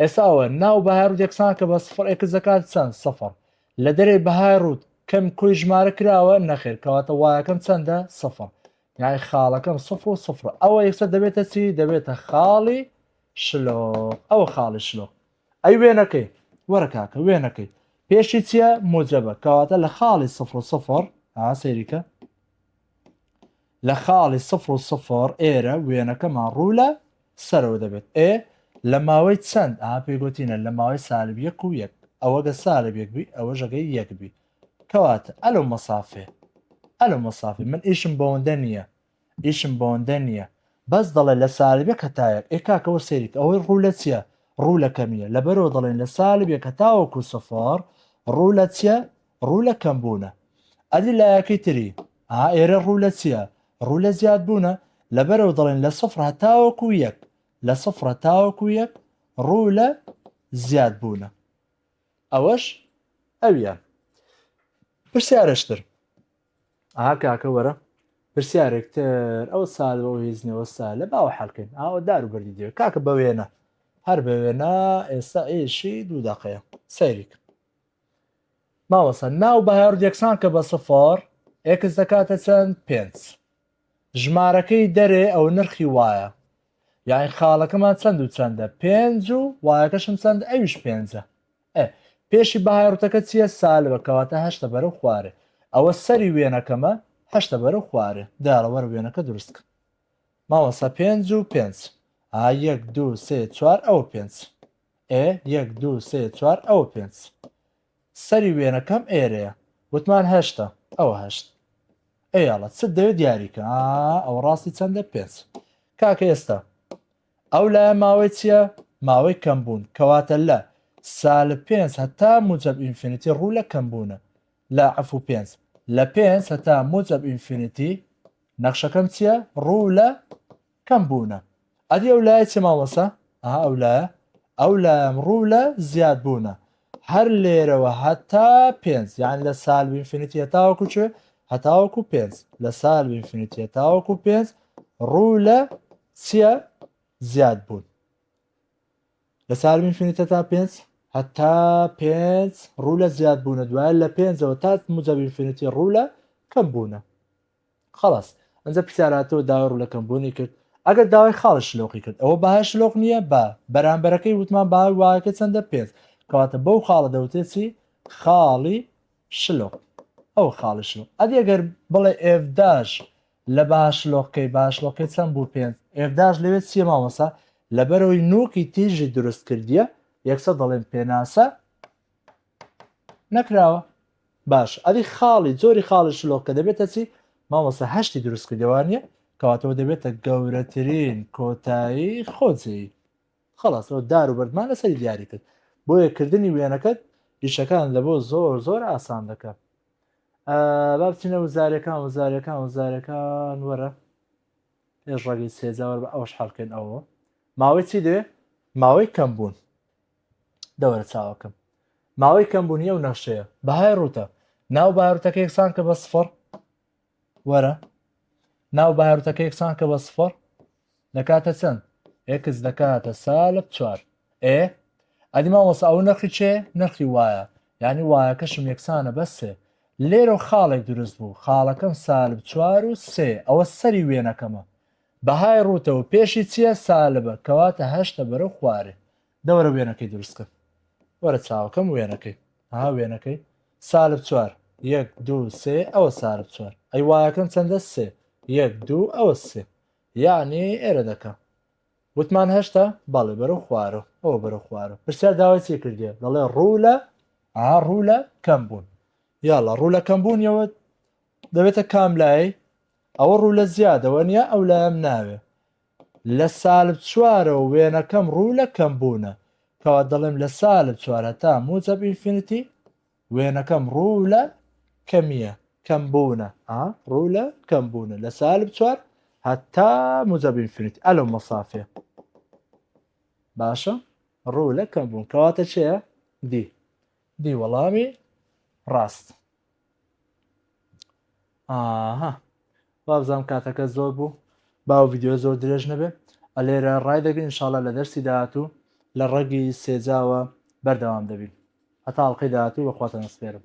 ئێساوە ناو بەهای ڕوت یەکسان کە بە سفر ئێکس دەکات چەند سەفر لە دەرێ بەهای ڕوت کەم کۆی ژمارە کراوە نەخێر کەواتە وایەکەم چەندە سەفر یای خاڵەکەم سفر و سفر ئەوە یەکسەر دەبێتە چی دەبێتە خاڵی شلۆ ئەوە خاڵی شلۆ ئەی وێنەکەی وەرە کاکە وێنەکەی پێشی چییە موجەبە کەواتە لە خاڵی سفر و سفر ها سەیریکە لە خاڵی سفر و سفر ئێرە وێنەکەمان ڕوو لە سەرەوە دەبێت ئێ لە ماوەی چەند ئا پێگوتینە لە ماوەی سالب یەک و یەک ئەوەگە سالب یەک بی ئەوە ژەگەی یەک بی کەواتە ئەلۆ مەسافێ ئەلۆ مەسافێ من ئیشم بەوەندە نییە ئیشم بەوەندە نییە بەس دەڵێ لە سالبێ کەتایەک ئێ کاکەەوە سەیرک ئەوەی ڕوو لە چیە ڕوو لە کەمیە لەبەرەوە دەڵێن لە سالبێ کە تاوەکو سفر ڕوو لە چیە ڕوو لە کەم بوونە ئەدی لایەکەی تری ها ئێرە ڕوو لە چیە ڕوو لە زیاد بوونە لەبەرەوە دەڵێن لە سفر هەتاوەکو یەک لە سفرە تاوەکو یەک ڕوو لە زیاد بوونە ئەوەش ئەویە پرسیارشتر ئا کاکە وەرە پرسیارێکتر ئەو سال بەو هێزنەوە سا لە باوە حلکەین ئاوە دار و بەردی دێ کاکە بە وێنە هەر بە وێنە ئێستا ئێشی دوو دەقەیە سەیریک ماوەسە ناو بەهار یەکسان کە بە سفار ئێکس دەکاتە چەند پێنج ژمارەکەی دەرێ ئەو نرخی وایە یاین خاڵەکەمان چەند و چەندە پێنج و وایەکەشم چەند ئەویش پێنجە ئە پێشی بەهای ڕوتەکە چییە سالبە کەواتە هەشتە بەرەو خوارێ ئەوە سەری وێنەکەمە هەشتە بەرەو خوارێ داڕە وەرە وێنەکە دروستکە مامۆسا پێنج و پێنج ئا یەک دوو سێ چوار ئەوە پێنج ئێ یەک دوو سێ چوار ئەوە پێنج سەری وێنەکەم ئێرەیە وتمان هەشتە ئەوە هەشت ئەی ئەڵە چت دەوێت دیاریکە ئا ئەوە ڕاستی چەندە پێنج کاکە ئێستا ئەو لایە ماوەی چییە ماوەی کەم بوون کەواتە لە سال پێنج هەتا موجب ئینفینیتی ڕوو لە کەم بوونە لە عفو پێنج لە پێنج هەتا موجب ئینفینیتی نەخشەکەم چییە ڕوو لە کەم بوونە ئەدی ئەو لایە چیە مامۆستا ئەها ئەو لایە ئەو لایەم ڕوو لە زیاد بوونە هەر لێرەوە هەتا پێنج یان لە سال بینفینیتی هەتاوەکو چێ هەتاوەکو پێنج لە سال بینفینیتی هەتاوەکو پێنج ڕوو لە چیە زیاد بوون لە سال بینفینیتە تا پێنج هەتا پێنج ڕوو لە زیاد بوونە دوایە لە پێنجەوە تا مجەبینفینیتی ڕوو لە کەم بوونە خەڵاس ئەنجا پرسیار هاتەوە داوای ڕولەکەم بۆ نەیکرد ئەگەر داوای خاڵی شلۆقی کرد ئەوە بەهای شلۆق نیە بە بەرامبەرەکەی وتمان بەهای واهەکە چەندە پێنج کەواتە بەو خاڵە دەوترێت چی خاڵی شلۆق ئەوە خاڵی شلۆق ئەدی ئەگەر بڵێ ئێفداش لە بەها شلۆقکەی بەها شلۆقی چەند بوو پێنج ئێفداش لەوێت چیە مامۆسا لەبەرەوەی نوکی تیژی دروست کردیە یەکسە دەڵێن پێناسە نەکراوە باش ئەری خاڵی زۆری خاڵی شلۆک کە دەبێتە چی مامۆستا هەشتی دروست کردوانە کەواتەوە دەبێتە گەورەترین کۆتایی خۆجێ خلاصەوە دار و بەردمان لەسەری دیاری کرد بۆ یەکردنی وێنەکەت ئیشەکان لە بۆ زۆر زۆر ئاسان دەکەم بابچینە وزارەکان وزارەکان وزارەکان وەرە پێش ڕگەی سێجاوەەر بە ئەوش حڵکەن ئەوە ماوەی چی دێ ماوەی کەم بوون دەوەرە چاوەکەم ماوەی کەمبوونی ئەو نەخشەیە بەهای ڕوتە ناو باروتەکە یەکسان کە بە سفر وەرە ناو باروتەکە یەکسان کە بە سفر دەکاتە چەند ئێکس دەکاتە سالب چوار ئێ ئەدی مامۆسا ئەو نرخی چێ نرخی وایە ینی وایەکەشم یەکسانە بەسێ لێرە خاڵێک دروست بوو خاڵەکەم سالب چوار و سێ ئەوە سەری وێنەکەمە بەهای ڕوتەوە پێشی چییە سالبە کەواتە هەشتە بەرە خوارێ دەوەرە وێنەکەی دروست کە وەرە چاوەکەم وێنەکەی ها وێنەکەی سالب چوار یەک دوو سێ ئەوە سالب چوار ئەی وایەکەم چەندە سێ یەک دوو ئەوە سێ یعنی ئێرە دەکە وتمان هەشتا بەڵێ بەرە خوارە ئەوە بەرە خوارە پرسیار داوای چی کردێ دەڵێ ڕوو لە ئا ڕوو لە کەم بوون یاڵە ڕوو لە کەم بوونیەوە دەبێتە کام لای ئەوە ڕوو لە زیادەوە نیە ئەو لایم ناوێ لە سالب چوارەوە وێنەکەم ڕوو لە کەمبوونە، کەوا دەڵێم لە سالب چوار هەتا موجەب ئینفینیتی وێنەکەم ڕوو لە کەمییە، کەمبوونە، ئا، ڕوو لە کەمبوونە، لە سالب چوار هەتا موجەب ئینفینیتی، ئە لەو مەسافەیە. باشە؟ ڕوو لە کەمبوون، کەواتە چییە؟ دی. دی وەڵامی ڕاست. ئاها وابزانم کاتەکە زۆر بوو با و ڤیددیو زۆر درێژ نەبێ ئەلێرە ڕای دەگرین انشاءاللە لە دەرسی داهاتوو لە ڕەگی سێجاوە بەردەوام دەبین هەتا ئەڵقەی داهاتوو بەخواتان ئەسپێرم